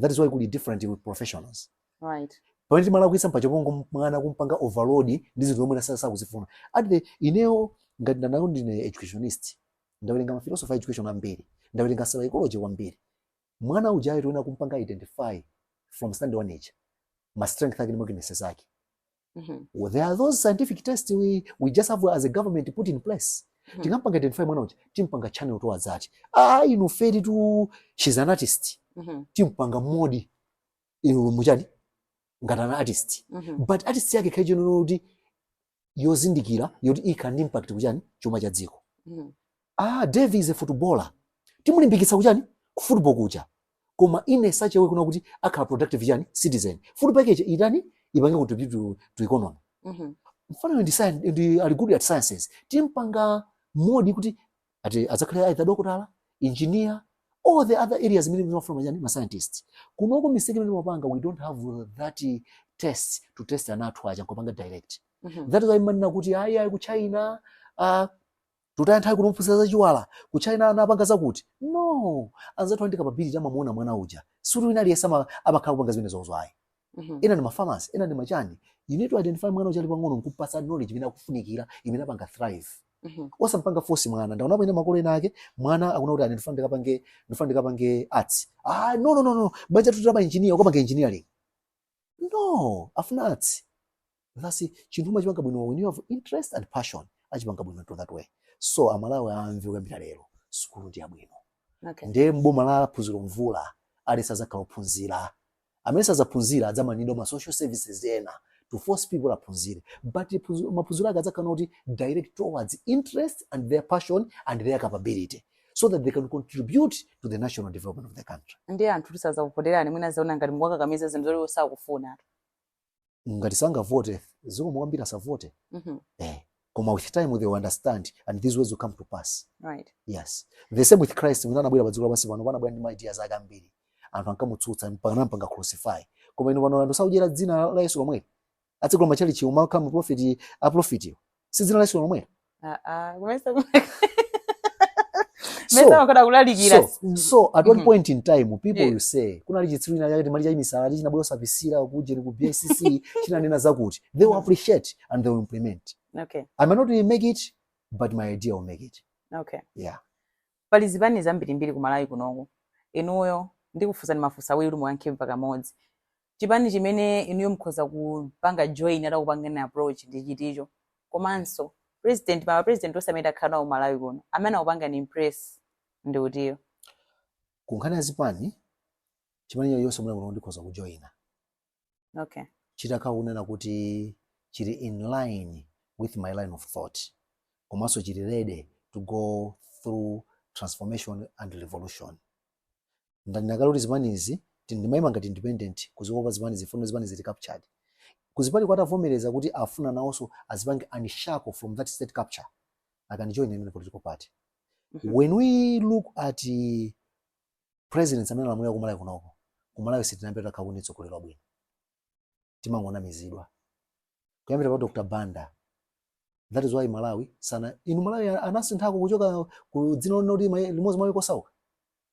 that is why kuli different with professionals right pamene timalakwitsa mpacho pongo mwana kumpanga overload ndi zinthu zomwe sakuzifuna at the ineyo ngati ndanayo ndine educationist ndawerenga ma philosopher a education ambiri ndawerenga psychology kwambiri mwana ujayo tiyenera kumpanga identify from standard one age ma strength ake ndi weaknesses ake mm -hmm. there are those scientific tests we, we just have as a government put in place mm -hmm. tikampanga identify mwana uja timpanga channel towards that ah inu feri tu she's an artist mm -hmm. timpanga mould inu muchani ngati an artist mm -hmm. but artist yake kaichonona kuti yozindikira yoti ikhala ndi impact kuchani chuma cha dziko mm -hmm. Aaa Davie is a footballer timulimbikitsa kuchani ku football kuja koma in a such a way kunena kuti akhala productive chani citizen football yake ija itani ipange contribute to, to economy Mhm. mfanayo ndi, science- ngati ali good at sciences timpanga mould kuti ati adzakhale either dokotala engineer all the other areas imene timafuna machani ma scientists kunoko mistake imene timapanga we don't have that eh, test to test ana athu aja nkopanga direct Mhm. that is why mumanena kuti ayi ayi ku china uh, Situtaya nthawi kumuphunzitsa za chiwala, ku China anapanga zakuti, no! Anzathu ali ndi capability amamuona mwana uja, sikuti wina aliyense ama amakhala kupanga zimenezozo ayi. Mhm. Ena ndi ma pharmacy, ena ndi machani. You need to identify mwana uja ali pang'ono nkupatsa knowledge imene akufunikira, imene apanga thrive. Mhm. Osampanga force mwana. Ndaonapo ena makolo ena ake, mwana akuna kuti ine ndifuna ndikapange, ndifuna ndikapange arts. Ah, no, no, no, no. Banja lathu la ma engineer, ukapanga engineering. no afuna arts that's chinthu umachipanga bwino when you have interest and passion achipanga bwino to that way so amalawi amve kuyambira lero sukulu ndi yabwino okay. ndiye mboma la Phunziro Mvula aliyense azakhala ophunzira amene sazaphunzira adzamanidwa ma social services ena to force people aphunzire but phunzi- maphunziro ake adzakhala kuti direct towards interest and their passion and their capability so that they can contribute to the national development of the country ndiye anthu atisazakuvoterani mwina azaona ngati mukuwakakamiza zinthu zoti osakufuna ngati sangavote zikomo kwambiri asavote Mhm. eh. koma with time they will understand and these words will come to pass right yes the same with christ mmene anabwera pa dziko lapansi pano anabwera ndi ma ideas ake ambiri anthu ankamutsutsa mpaka anampanga crucify koma inu pano anthu sakudyera dzina la yesu lomweli atsegula matchalitchi umakhala ma prophet a prophet wo si dzina la Yesu lomwe ah ah kumesa mesa so makoda kulalikira so so at one Mhm. point in time people Yeah. will say kunali chitsiru china chake chinali chamisala chinabwera osabisira kuja ku BCC chinanena zakuti they will Mhm. appreciate and they will implement okay i may not really make it but my idea will make it okay yeah Pali zipani zambirimbiri ku Malawi kunoku. Inuyo ndikufunsani mafunso awiri kuti muyankhe mphakamodzi. Chipani chimene inuyo mkhoza kupanga join atakupangani approach ndi chiticho? Komanso president pa ma president onse amene takhala nawo ku Malawi kuno amene anakupangani impress ndi utiyo? Ku nkhani ya zipani, chipani chilichonse komwe kuno ndikhoza kujoina. okay chitakhala kunena kuti chili in line with my line of thought komanso chili ready to go through transformation and revolution ndanena kale kuti zipanizi ti- ndimayima ngati independent kuzikopa zipanizi chifukwa zipanizi zili captured koma zipanizo zitavomereza kuti afuna nawonso azipange unshackle from that state capture I can join a political party Mhm. when we look at uh, presidents amene alamulira ku Malawi kunoko ku Malawi sitinambe takhala ndi mtsogoleri wabwino timangonamizidwa kuyambira pa Dr. Banda that is why Malawi sana inu Malawi anasinthako kuchoka ku dzina loti limodzi mwa maiko osauka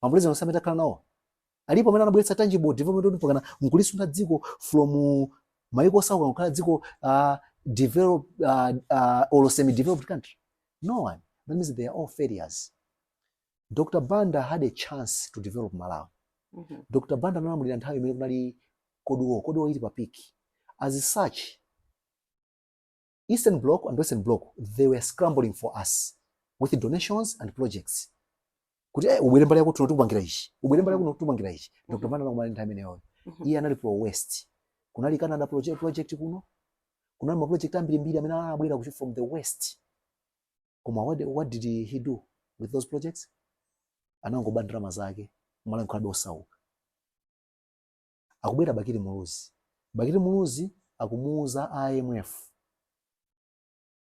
mapulezidenti onse amene takhala nawo alipo amene anabweretsa tangible development kuti mpakana nkulisuntha dziko from maiko osauka kukhala dziko uh, develop uh, uh, or semi developed country no one that means they are all failures Dr. Banda had a chance to develop Malawi. Mm -hmm. Dr. Banda analamulira nthawi imene kunali cold war cold war ili pa peak. As such, Eastern Bloc and Western Bloc, they were scrambling for us with donations and projects. Kuti eh, ubwere mbali yakuno tikupangira ichi. Ubwere mbali yakuno tikupangira ichi. Mm-hmm. Dr. Banda anakumana nthawi imeneyo. Mm-hmm. Iye anali pro west. Kunali Canada project, project kuno. Kunali ma project ambiri mbiri amene anabwera from the west. koma what, what did he do with those projects anangoba ndalama zake Malawi nkukhalabe osauka akubwera bakili muluzi bakili muluzi akumuuza imf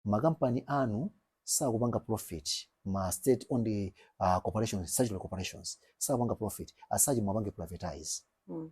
makampani anu sakupanga profit ma state owned uh, corporations statutory corporations sakupanga profit as such muwapange privatize Mm.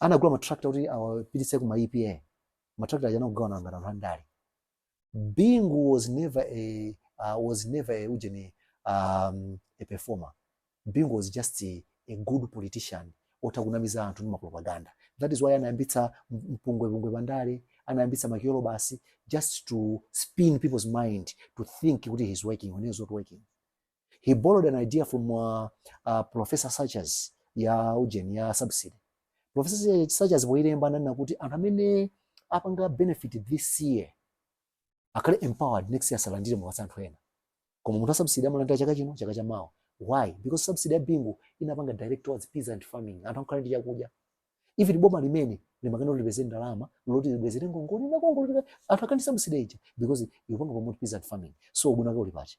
anagula matrakita kuti awapititse ku ma EPA matrakita aja anakagawana ngati anthu andale Bingu was never a uh, was never a ujeni um, a performer Bingu was just a, a good politician otha kunamiza anthu ndi mapropaganda that is why anayambitsa m- mpungwepungwe pandale anayambitsa makiyolo basi just to spin people's mind to think kuti he's working when he's not working he borrowed an idea from uh, uh, professor Sachs ya ujeni ya subsidy professor Sachs poilemba ananena kuti anthu amene apanga benefit this year akhale empowered next year asalandire mupatse anthu ena koma munthu subsidy amalandira chaka chino chaka cha mawa why because subsidy ya bingu inapanga direct towards peasant farming anthu akhale ndi chakudya if ndi boma limene limakana lipeze ndalama loti libwezere ngongole na ngongole anthu akadya subsidy ija because ikupanga promote peasant farming so ubwino wake uli pati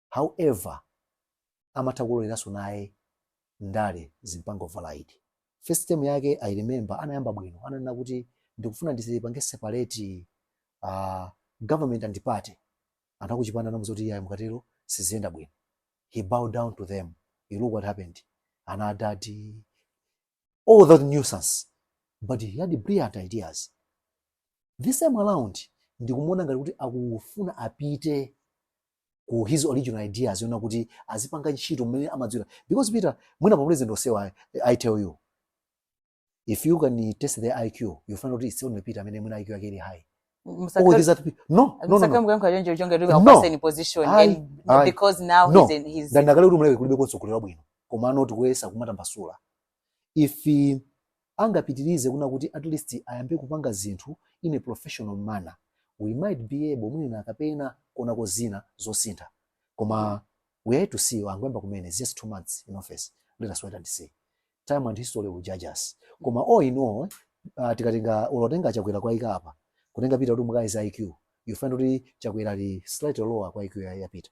however amatha kuloleranso naye ndale zimpanga override first term yake i remember anayamba bwino ananena kuti ndikufuna ndipange separate uh, government and party anthu akuchipani anamuuza kuti iyayi mukatero siziyenda bwino he bowed down to them you look what happened ana adadi all that nuisance but he had brilliant ideas this time around ndikumuona ngati kuti akufuna apite ku his original ideas zoona kuti azipanga ntchito mmene amadziwira because peter mwina pa ma president onsewa I, i tell you if you can test their iq you find out it's only peter amene mwina iq yake ili high all these other people no no no, no. msakamuka mkhala choncho chonga kuti No. akupaseni position Ayi, and ayi. because now No. he's in his ndanena kale kuti muleke kulibe konse kolera bwino komano tikuyesa kumatambasula if angapitilize kunena kuti at least ayambe kupanga zinthu in a professional manner we might be able mwina kapena kuonako zina zosintha koma we have to see angoyamba kumene it's just two months in office let us wait and see time and history will judge us koma all in all uh, tikatenga olo kutenga chakwera kuwaika apa kutenga peter kuti mukayeza iq you find kuti chakwera ali slightly lower kwa iq ya ya peter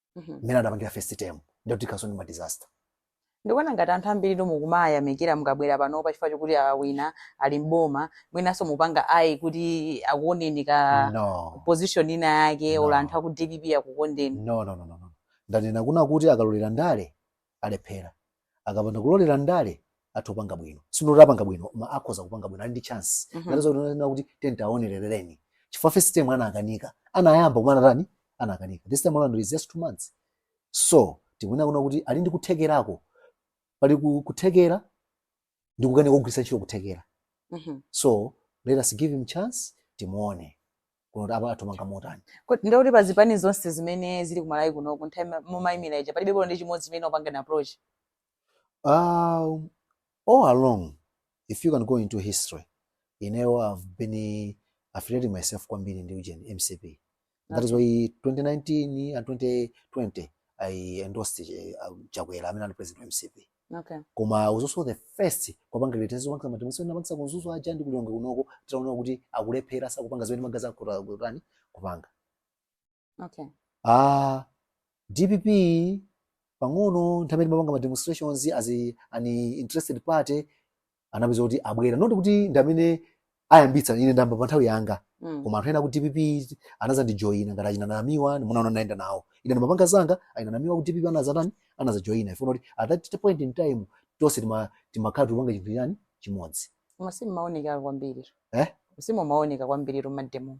Mhm. mmene adapangira first term ndiye kutikhanso ndi ma disaster ndikuona ngati anthu ambiri tu mukumawayamikira mukabwera pano pa chifukwa chokuti awina ali mboma mwinanso mukupanga ayi kuti akuoneni ka no position ina yake No. olo anthu aku dpp akukondeni no no no no no. ndanena kunena kuti akalolera ndale alephera akapanda kulolera ndale atha kupanga bwino si not kuti apanga bwino koma akhoza kupanga bwino ali ndi chance Mhm. ngati ndikunena kuti tiyeni tiwaonerereni chifukwa first time anakanika anayamba koma anatani anakanika this time around it's just two months so tikuona kunena kuti ali ndi kuthekerako pali ku- kuthekera ndi kukanika kugwiritsa ntchito kuthekera Mhm. so let us give him chance timuone kuti apa atumikira motani Kodi ndikuti pa zipani zonse zimene zili ku Malawi kuno ku nthawi mumayimira ija palibe bolo ndi chimodzi chimene anakupangani approach. Um, all along, if you can go into history, you know, I've been uh, affiliating myself kwambiri ndi ujeni MCP. That is why 2019 and 2020 I endorsed uh, Chakwera amene anali president wa MCP. Okay. Koma I was also the first kupanga realize ndinapanga ma demonstration ndinapangitsa ku Mzuzu aja ndi ku Lilongwe kunoko titaona kuti akulephera sakupanga zimene amalonjeza kuta kutani kupanga. Okay. Ah DPP pang'ono nthawi ndimapanga ma demonstrations as a, an interested party anapeza kuti abwera not kuti ndi amene ayambitsa ine ndayamba pa nthawi yanga Mm. koma anthu ena ku dpp anazandijoyina ngati achina namiwa munaona ndinayenda nawo ine ndimapanga zanga achina namiwa ku dpp anazatani anazajoyina chifukwa choti at that point in time tonse tima- timakhala tikupanga chinthu chotani chimodzi Koma simumaoneka kwambiri. Eh? Simumaoneka kwambiri mmademo.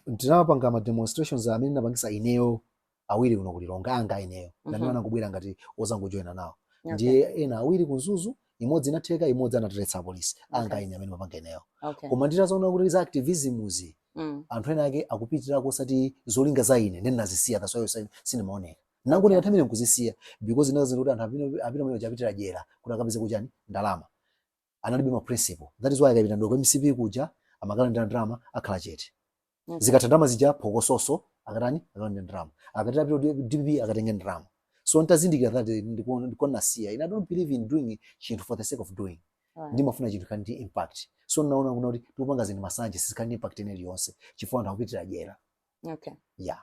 ndinapanga ma demonstrations amene ndinapangisa ineyo awiri kuno ku Lilongwe anga ineyo mm -hmm. ndi amene anangobwera ngati ozangojoyina nawo okay. ndiye ena awiri ku Mzuzu imodzi inatheka imodzi anatiletsa apolisi okay. anga ine amene ndimapanga ineyo okay. koma nditazaona kuti za activismuzi mm. anthu ena ake akupitira osati zolinga za ine ndiye ndinazisiya that's why sindimaoneka ndinango okay. ndinathamire nkuzisiya because ndinaziwa kuti anthu apita chimene apitira jena kuti akapezeko chani ndalama analibe ma principle that is why akapita ndi ku mcp kuja amakalandira ndalama akhala chete Mhm. zikatha ndalama zija phokososo akatani akalandira ndalama akatero apita ku dpp akatenge ndalama so ntazindikira that eh, ndikuona ndikuona nasiya ine i don't believe in doing chinthu for the sake of doing Alright. ndimafuna chinthu chili ndi impact so naona kunena kuti tikupanga zinthu masanje sizikhala ndi impact ina iliyonse chifukwa anthu akupitira dyera okay yeah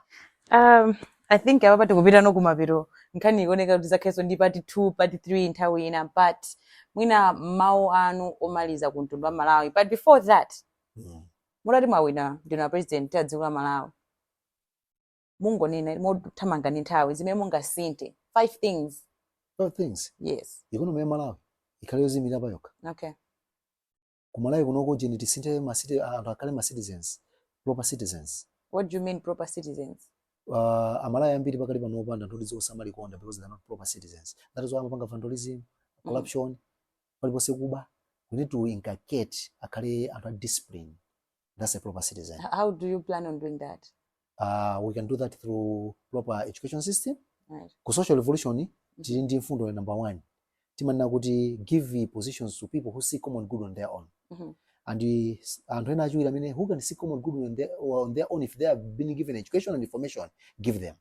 um i think apapa tikupitano kumapeto nkhani ikuoneka kuti idzakhalenso ndi part 2 part 3 nthawi ina but mwina mawu anu omaliza ku mtundu wa malawi but before that mm. mutati mwawina ndinu a president a dziko la malawi mungonena mothamanga ndi nthawi zimene mungasinthe five things five things yes economy ya malawi ikhale yodziimira pa yokha okay kumalawi kunoko tiyeni tisinthe ma citi- anthu akhale ma citizens proper citizens what do you mean proper citizens uh, amalawi ambiri pakali pano apanga zinthu ndi zosamalikonda because they are not proper citizens that is why amapanga vandalism corruption paliponse kuba we need to inculcate akhale anthu a discipline that's a proper citizen. H- How do you plan on doing that? Uh, we can do that through proper education system. Right. Ku social revolution tili ndi mfundo ya number one timanena kuti give positions to people who see common good on their own Mhm. and eh, s- anthu ena achiwiri amene who can see common good on their, on their own if they have been given education and information give them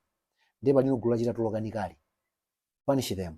ndiye palino gulu lachita tolokanikali punish them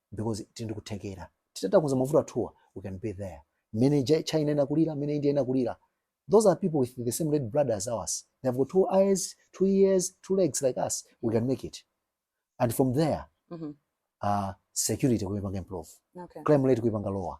because tili ndi kuthekera titatakuza mavuto athuwa we can be there mmene Ja- china inakulira mmene india inakulira those are people with the same red blood as ours they have got two eyes two ears two legs like us we can make it and from there Mhm. uh, security kuipanga improve Okay. crime rate kuipanga lower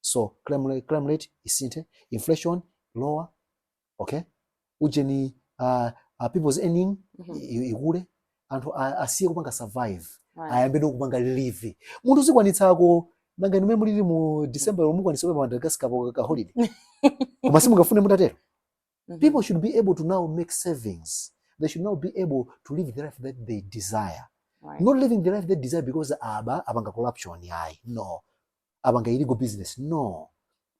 so crime rate, crime rate isinthe inflation lower okay ujeni uh, uh, people's earning Mhm. i- i- ikule anthu a- asiye kupanga survive Right. ayambe kupanga live munthu azikwanitsako nanga mmene mulili mu december mukwanitsa kupita madagascar pa ka holiday koma simungafune mutatero Mhm. people should be able to now make savings they should now be able to live the life that they desire Right. not living the life they desire because aba apanga corruption yayi no apanga illegal business no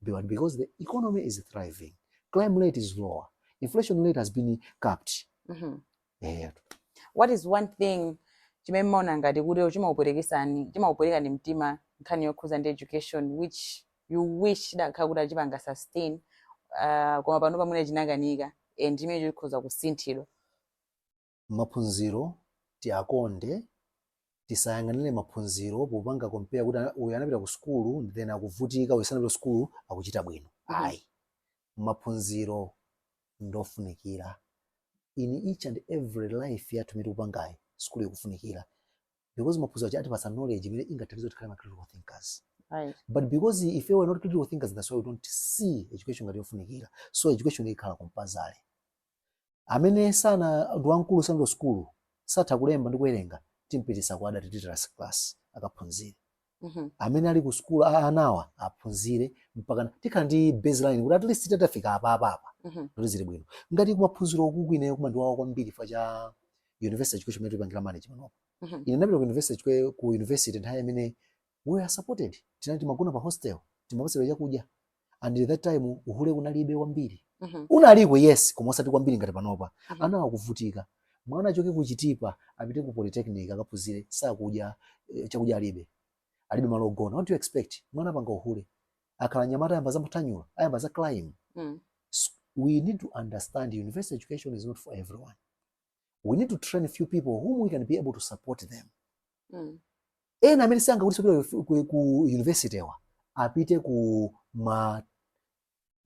but because the economy is thriving crime rate is lower inflation rate has been capped Mhm. eh, what is one thing chimene mmaona ngati kuti chimakupwetekesani chimakupwetekeni mtima nkhani yokhudza ndi education which you wish chidakhala kuti achipanga sustain uh, koma pano pamene chinakanika and chimene chikhoza kusinthidwa maphunziro tiakonde tisayang'anire maphunziro popanga compare kuti ana- uyu anapita ku sukulu then akuvutika uyu sanapita ku sukulu akuchita bwino Mhm. ayi maphunziro ndofunikira in each and every life yathu imene tikupangayi sukulu ikufunikira because maphunziro aja atipatsa knowledge imene ingathandize kuti tikhale ma critical thinkers Right. but because if we were not critical thinkers that's why we don't see education ngati yofunikira so education ikhale compulsory amene sana ndi wamkulu sanapite sukulu satha kulemba ndi kuwerenga timpititse ku adult literacy class akaphunzire Mhm. amene ali ku sukulu a- anawa aphunzire mpaka tikhale ndi baseline kuti at least titafika apa apa apa Mhm. kuti zili bwino ngati kumaphunziro uku ine chomandiwawa kwambiri chifukwa cha university education imene tikupangira management apo Mhm. ine ndinapita ku university kwe- ku university nthawi imene we are supported tinali timagona pa hostel timapatsidwa chakudya and that time uhule kunalibe kwambiri mm -hmm. unaliko yes koma osati kwambiri ngati panopa mm -hmm. ana akuvutika mwana achoke ku Chitipa apite ku polytechnic akaphunzire sakudya eh, chakudya alibe alibe malo ogona what do you expect mwana apanga uhule akakhala mnyamata ayamba zamathanyula ayamba za crime mm. we need to understand university education is not for everyone we need to train a few people whom we can be able to support them mm. ena amene sangakuti ku, ku university wa apite ku ma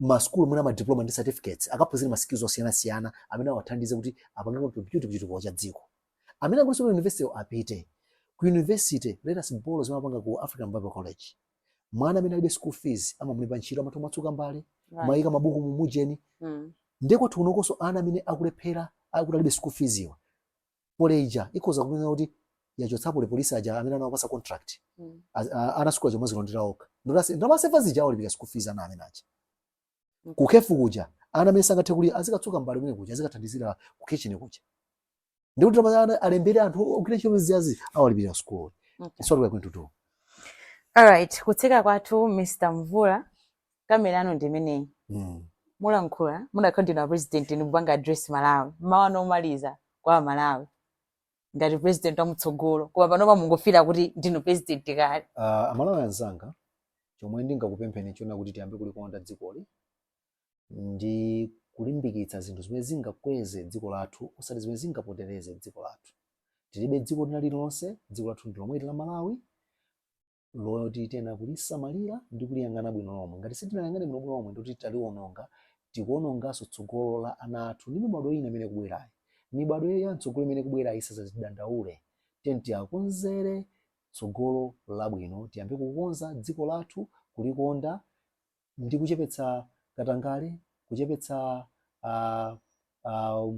ma school mwina ma diploma ndi certificates akaphunzire ma skills osiyana siyana amene awathandize kuti apange contribute kuchitukuko cha dziko amene akuti ku university apite ku university let us borrow zimene apanga ku African Bible College mwana amene alibe school fees amamulemba ntchito amatha kumatsuka mbale Right. kumayika mabuku mu mujeni Mm. ndiye kwathu kunokonso ana amene akulephera kuti alibe school fees iwa Poly ija ikhoza kunena kuti yachotsapo apolisi aja amene anawapasa contract Mm. Az- a- ana sukulu aja mwazilondera okha ndalama aseva zija awalipira school fees ana amene aja kukhefu kuja ana amene sangathe kuti azikatsuka mbale kumene kuja azikathandizira ku kitchen kuja ndikuti ndalama akanalembera anthu ogwira ntchito zijazi awalipirira school Okay. it's what we're going to do Alright, kutseka kwathu Mr. Mvula kamera yanu ndi imeneyi. mm. Mulankhula, mudakakhala ndinu a president ndikupanga address Malawi. Mawu anu omaliza kwa Amalawi. ngati president wamtsogolo koma panopa mungofira kuti ndinu president kale uh, amalawi anzanga chomwe ndingakupempheni nchonena kuti tiyambe kulikonda dzikoli ndi kulimbikitsa zinthu zimene zingakweze dziko lathu osati zimene zingapotereze dziko lathu tilibe dziko lina lililonse dziko lathu ndi lomweli la malawi loti tiyenera kulisamalira ndi kuliyang'ana bwino lomwe ngati sitinayang'ane bwino bwino lomwe ndikuti taliwononga tikuononganso tsogolo la ana athu ndi mibadwo ina imene ikubwerayi mibadwo ya mtsogolo imene ikubwerayi isazatidandaule tiyeni tiwakonzere tsogolo labwino tiyambe kukonza dziko lathu kulikonda ndi kuchepetsa katangale, kuchepetsa uh, uh,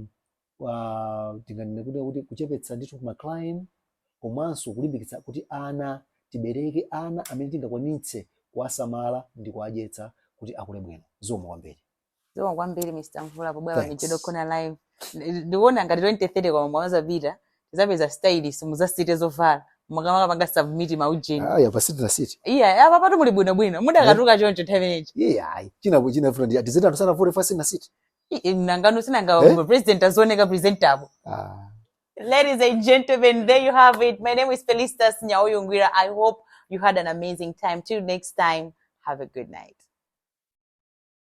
uh, tinganene kuti kuti kuchepetsa ndithu ma crime komanso kulimbikitsa kuti ana tibereke ana amene tingakwanitse kuwasamala ndi kuwadyetsa kuti akule bwino zikomo kwambiri Zikomo kwambiri Mr. Mvula pobwera pa Mijedo Thanks. Corner Live. Ndi- Ndikuona ngati 2030 kwa mwa zapita tidzapeza stylist muzasinthe zovala mukamakapanga submit ma ujeni. Ah, yapa siti na siti. Iya, apa patu muli bwino bwino. Mudakatuka choncho nthawi inechi. Iye ayi. China ku china fundi ati zina tusana vore fasi na siti. Ii, Nangano sinanga Eh? eh? president azioneka presentable. Ah. Ladies and gentlemen, there you have it. My name is Felistus Nyauyu Ngwira. I hope you had an amazing time. Till next time, have a good night.